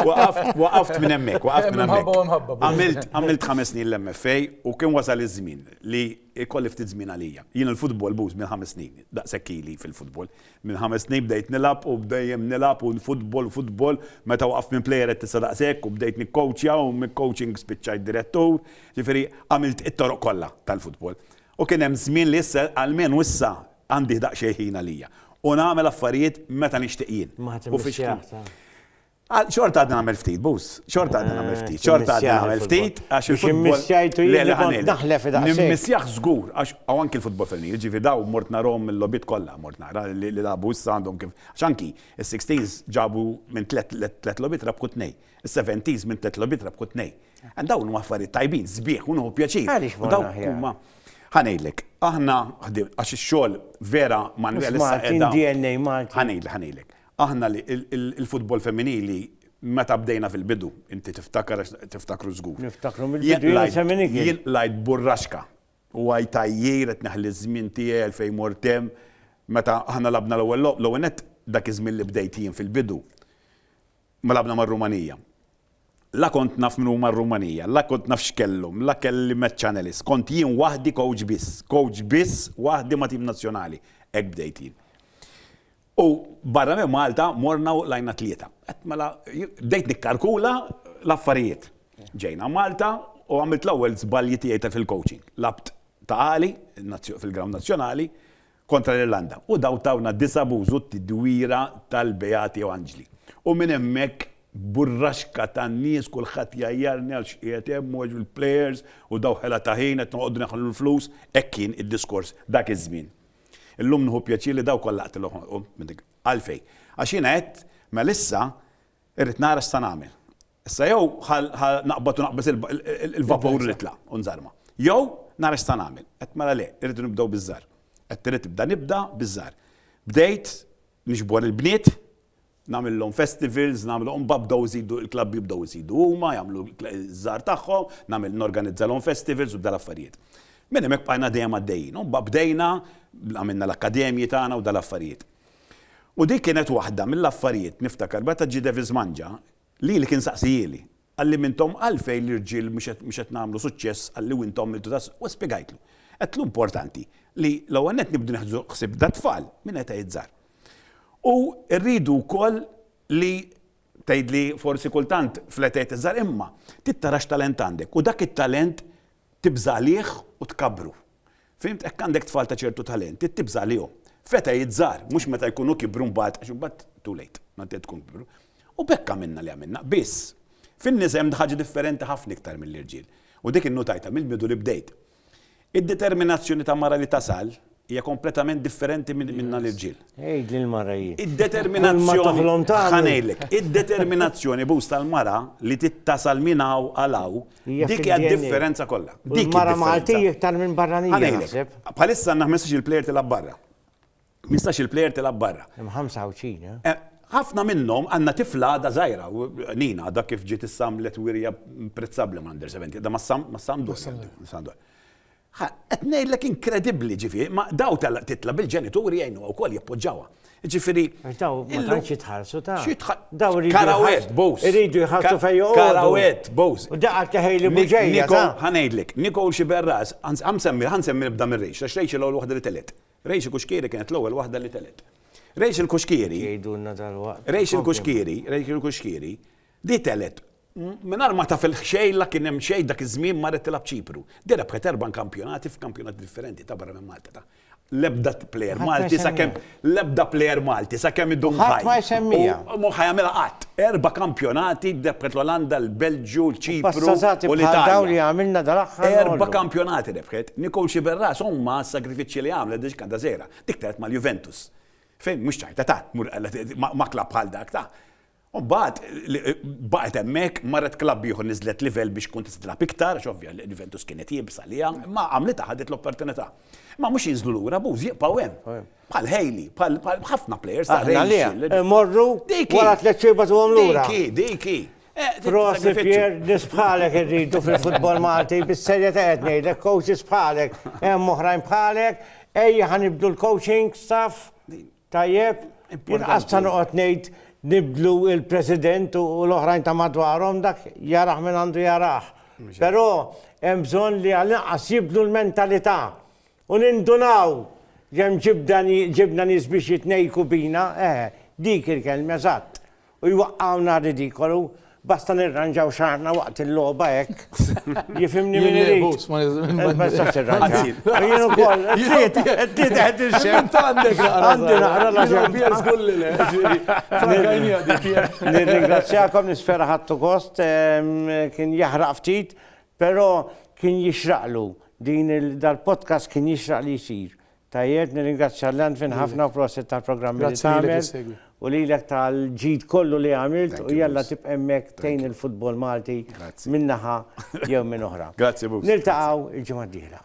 Waqaft minn hemmhekk, waqaft minn hemmhekk. Imħabba u imħabba. Għamilt, għamilt ħames snin l-MFA u kien wasal iż-żmien li jkolli ftit żmien għalija. Jien il-futbol buz minn ħames snin, daqshekk ili fil-futbol. Minn ħames snin bdejt nilgħab u bdejjem nilgħab u futbol, futbol, meta waqaft minn plejer qed tista' daqshekk u bdejt nikkowċja u mill-coaching spiċċajt direttur. Ġifieri għamilt it-toroq kollha tal-futbol. U kien hemm żmien li issa għalmenu issa Għandih daqsxejn ħin għalija. U nagħmel affarijiet meta nixtieq jien. Ma ħadd immissih aktar. Xorta għadni nagħmel ftit, Buz. Xorta għadni nagħmel ftit. Xorta għadni nagħmel ftit għax il-futbol. Immissjajtu jien kont naħlef id Immissjah żgur għax hawn anki l-futbol femminil, ġifieri daw mort narhom il-logħbiet kollha mort nara li lagħbu issa għandhom kif. Għax anki is-16s ġabu minn tliet logħbiet rebħu tnejn. Is-seventies minn tliet logħbiet rebħu tnejn. Dawn huma affarijiet tajbin, sbieħ u nieħu pjaċir. Għaliex morna aħjar? Ħa ngħidlek, aħna ħdimna għax ix-xogħol vera Manwel issa qiegħda. DNA Malti. Ħa ngħidlek, ħa ngħidlek. Aħna l-futbol femminili meta bdejna fil-bidu, inti tiftakar għax tiftakru żgur. Niftakru mill-bidu jien semmini kien. Jien lajt burraxka u għaj tajjir qed neħli ż-żmien tiegħi għal fejn mortem meta aħna labna l-ewwel logħob l-ewwel nett dak iż-żmien li bdejt jien fil-bidu Ma lagħabna mar-Rumanija. La kont naf min huma r-Rumanija, la kont naf x'kellhom, la kelli match channelist, kont jien waħdi kowċ biss, kowċ biss waħdi ma' tim nazzjonali. Hekk bdejt jien. U barra minn Malta morna u qlajna tlieta. Għedt mela, bdejt nikkalkula l-affarijiet. Ġejna Malta u għamilt l-ewwel żbalji tiegħi ta' fil-coaching. Lagħabt ta' għali fil-ground nazzjonali kontra l-Irlanda, u dawn tawna disa' b'użu t-tidwira tal-Beati jew Anġli. U minn hemmhekk burraxka ta' nies kulħadd jgħajjarni għal x'qiegħed hemm u eġu l-players u daw ħela ta' ħin qed noqogħdu neħlu l-flus, hekk kien id-diskors dak iż-żmien. Illum nieħu pjaċir li daw kollha qtilhom u għalfejn? Għax jiena għedt mela issa irrid nara x'sa nagħmel. Issa jew ħa naqbad u naqbeż il-vapur u nitla' u nżarma. Jew nara x'sa nagħmel. Għedt mela le, irridu nibdew biż-żgħar. Għedt irrid nibda nibda biż-żgħar. Bdejt niġbor il-bniet, nagħmillhom festivals, nagħmlu mbagħad bdew iżidu l-klabbi bdew iżidu huma jagħmlu ż-żgħar tagħhom, nagħmel norganizzalhom festivals u dal-affarijiet. Minn hemmhekk bqajna dejjem għaddejjin. U mbagħad bdejna, għamilna l-akkademji tagħna u dal-affarijiet. U dik kienet waħda mill-affarijiet, niftakar, meta ġie Davis Mangia, Lili kien saqsijieli, Qalli m'intom għalfejn l-irġiel mhux qed nagħmlu suċċess qalli u intom għamiltu ta' u spjegajtlu. Għedtlu importanti li l-ewwel nett nibdu neħdu ħsieb dat-tfal minn etajiet żgħar. U rridu wkoll li tgħidli forsi kultant fl-etajiet iż-żgħar imma trid tara x'talent għandek u dak it-talent tibża' għalih u tkabbru. Fhimt? Hekk għandek tfal ta' ċertu talent, trid tibża' għalihom. Feta jgħid żgħar, mhux meta jkunu kibru mbagħad, għax imbagħad too late, meta tkun kibru. U b'hekk għamilna li għamilna. Biss, fin-nisa hemm ħaġa differenti ħafna iktar mill-irġiel. U dik innutajtha mill-bidu li bdejt. Id-determinazzjoni ta' mara li tasal hija kompletament differenti minna l-irġiel. Għid lill-mara hi. Id-determinazzjoni, ħa ngħidlek, id-determinazzjoni boost tal-mara li trid tasal minn hawn għal hawn, Dik hija d-differenza kollha. Dik mara Malti iktar minn barranija naħseb. Bħalissa għandna 15 il-plejer tilgħab barra. 15 il-plejer tilgħab barra. Hemm 25, eh? eh? Ħafna minnhom għandna tifla għadha żgħira, Nina, dak kif ġiet issamlet wirja prezzabbli ma' under 70, da ma' sam, ma' sam dwar. Ha, qed ngħidlek inkredibbli, ġifieri, ma daw tal titla' bil-ġenituri jgħinuha wkoll jappoġġawha. Ġifieri. Għax daw ma tantx jitħallsu ta. Daw iridu. Karawet, bows. Iridu jħallsu fejn joqgħodu. Karawet, bows. U daqqa teħejli muġejja. Ha ngħidlek, Nicole xi berras, ħa nsemmi, ħa nsemmi nibda minn Rachel, għax Rachel l-ewwel waħda li telgħet. Rachel Kuxkieri kienet l-ewwel waħda li telgħet. Rachel Kuxkieri. Jgħidulna dal-waqt. Rachel Kuxkieri, Rachel Kuxkieri, Di telgħet mingħajr ma taf il-ħxejla kien hemm xejn dak iż-żmien marret tilgħab Ċipru. Di rebħet erba' nkampjonati f'kampjonati differenti ta' barra minn Malta ta' l-ebda plejer Malti sakemm l-ebda plejer Malti sakemm idum ħaj. Ħadd ma jsemmija. U mhu ħa jagħmilha qatt. Erba' kampjonati rebħet l-Olanda, l-Belġju, l-Ċipru u l-Italja. Erba' kampjonati rebħet. Nicole Sciberras ommha s-sagrifiċċji li għamlet biex kanta żgħira. Dik telgħet mal-Juventus. Fejn mhux ċajta ta' tmur ma' klabb bħal dak ta'. U mbagħad baqgħet hemmhekk, marret klabb ieħor niżlet livell biex tkun tista' tilgħab iktar għax ovvja Juventus kienet iebsa għaliha, imma għamlitha ħadet l-opportunità. Imma mhux jinżlu lura Boos, jibqgħu hemm. Bħal Haley, bħal ħafna plejers ta' Rangers. Imorru wara tliet xhur bagħtuhom lura. Dik hi, dik hi. Prosi Pier, nisbħalek irridu fil-futbol Malti, bis-serja ta' qed ngħidlek, coaches bħalek, hemm oħrajn bħalek, ejja ħanibdu l-coaching staff. Tajjeb, inqas ta' noqgħod ngħid nibdlu l-President u l-oħrajn ta' madwarhom, dak jarah min għandu jarah. Però hemm bżonn li għall-inqas jibdlu l-mentalità u nindunaw li hemm ġibna nies biex jitnejjku bina, eħe, dik il-kelma eżatt. U jwaqqgħuna r-ridikolu, basta nirranġaw xagħarna waqt il-logħba hekk. Jifhimni min irid. Ma nistax tirranġa. Jien ukoll, trid, trid qed inxemm. Għandek naqra. Għandi naqra la ġemm. Pier żgur li le, ġieli. Frankajnija di Pier. Nirringrazzjakom, nispera ħadtu gost, kien jaħraq ftit, però kien jixraqlu din dal-podcast kien jixraq li jsir. Tajjeb, nirringrazzja Landfin ħafna u prosit tal-programmi li tagħmel u lilek tal-ġid kollu li għamilt u jalla tibqa' hemmhekk tgħin il-futbol Malti minn naħa jew minn oħra. Grazzi Bux. Niltaqgħu il-ġimgħa d-dieħla.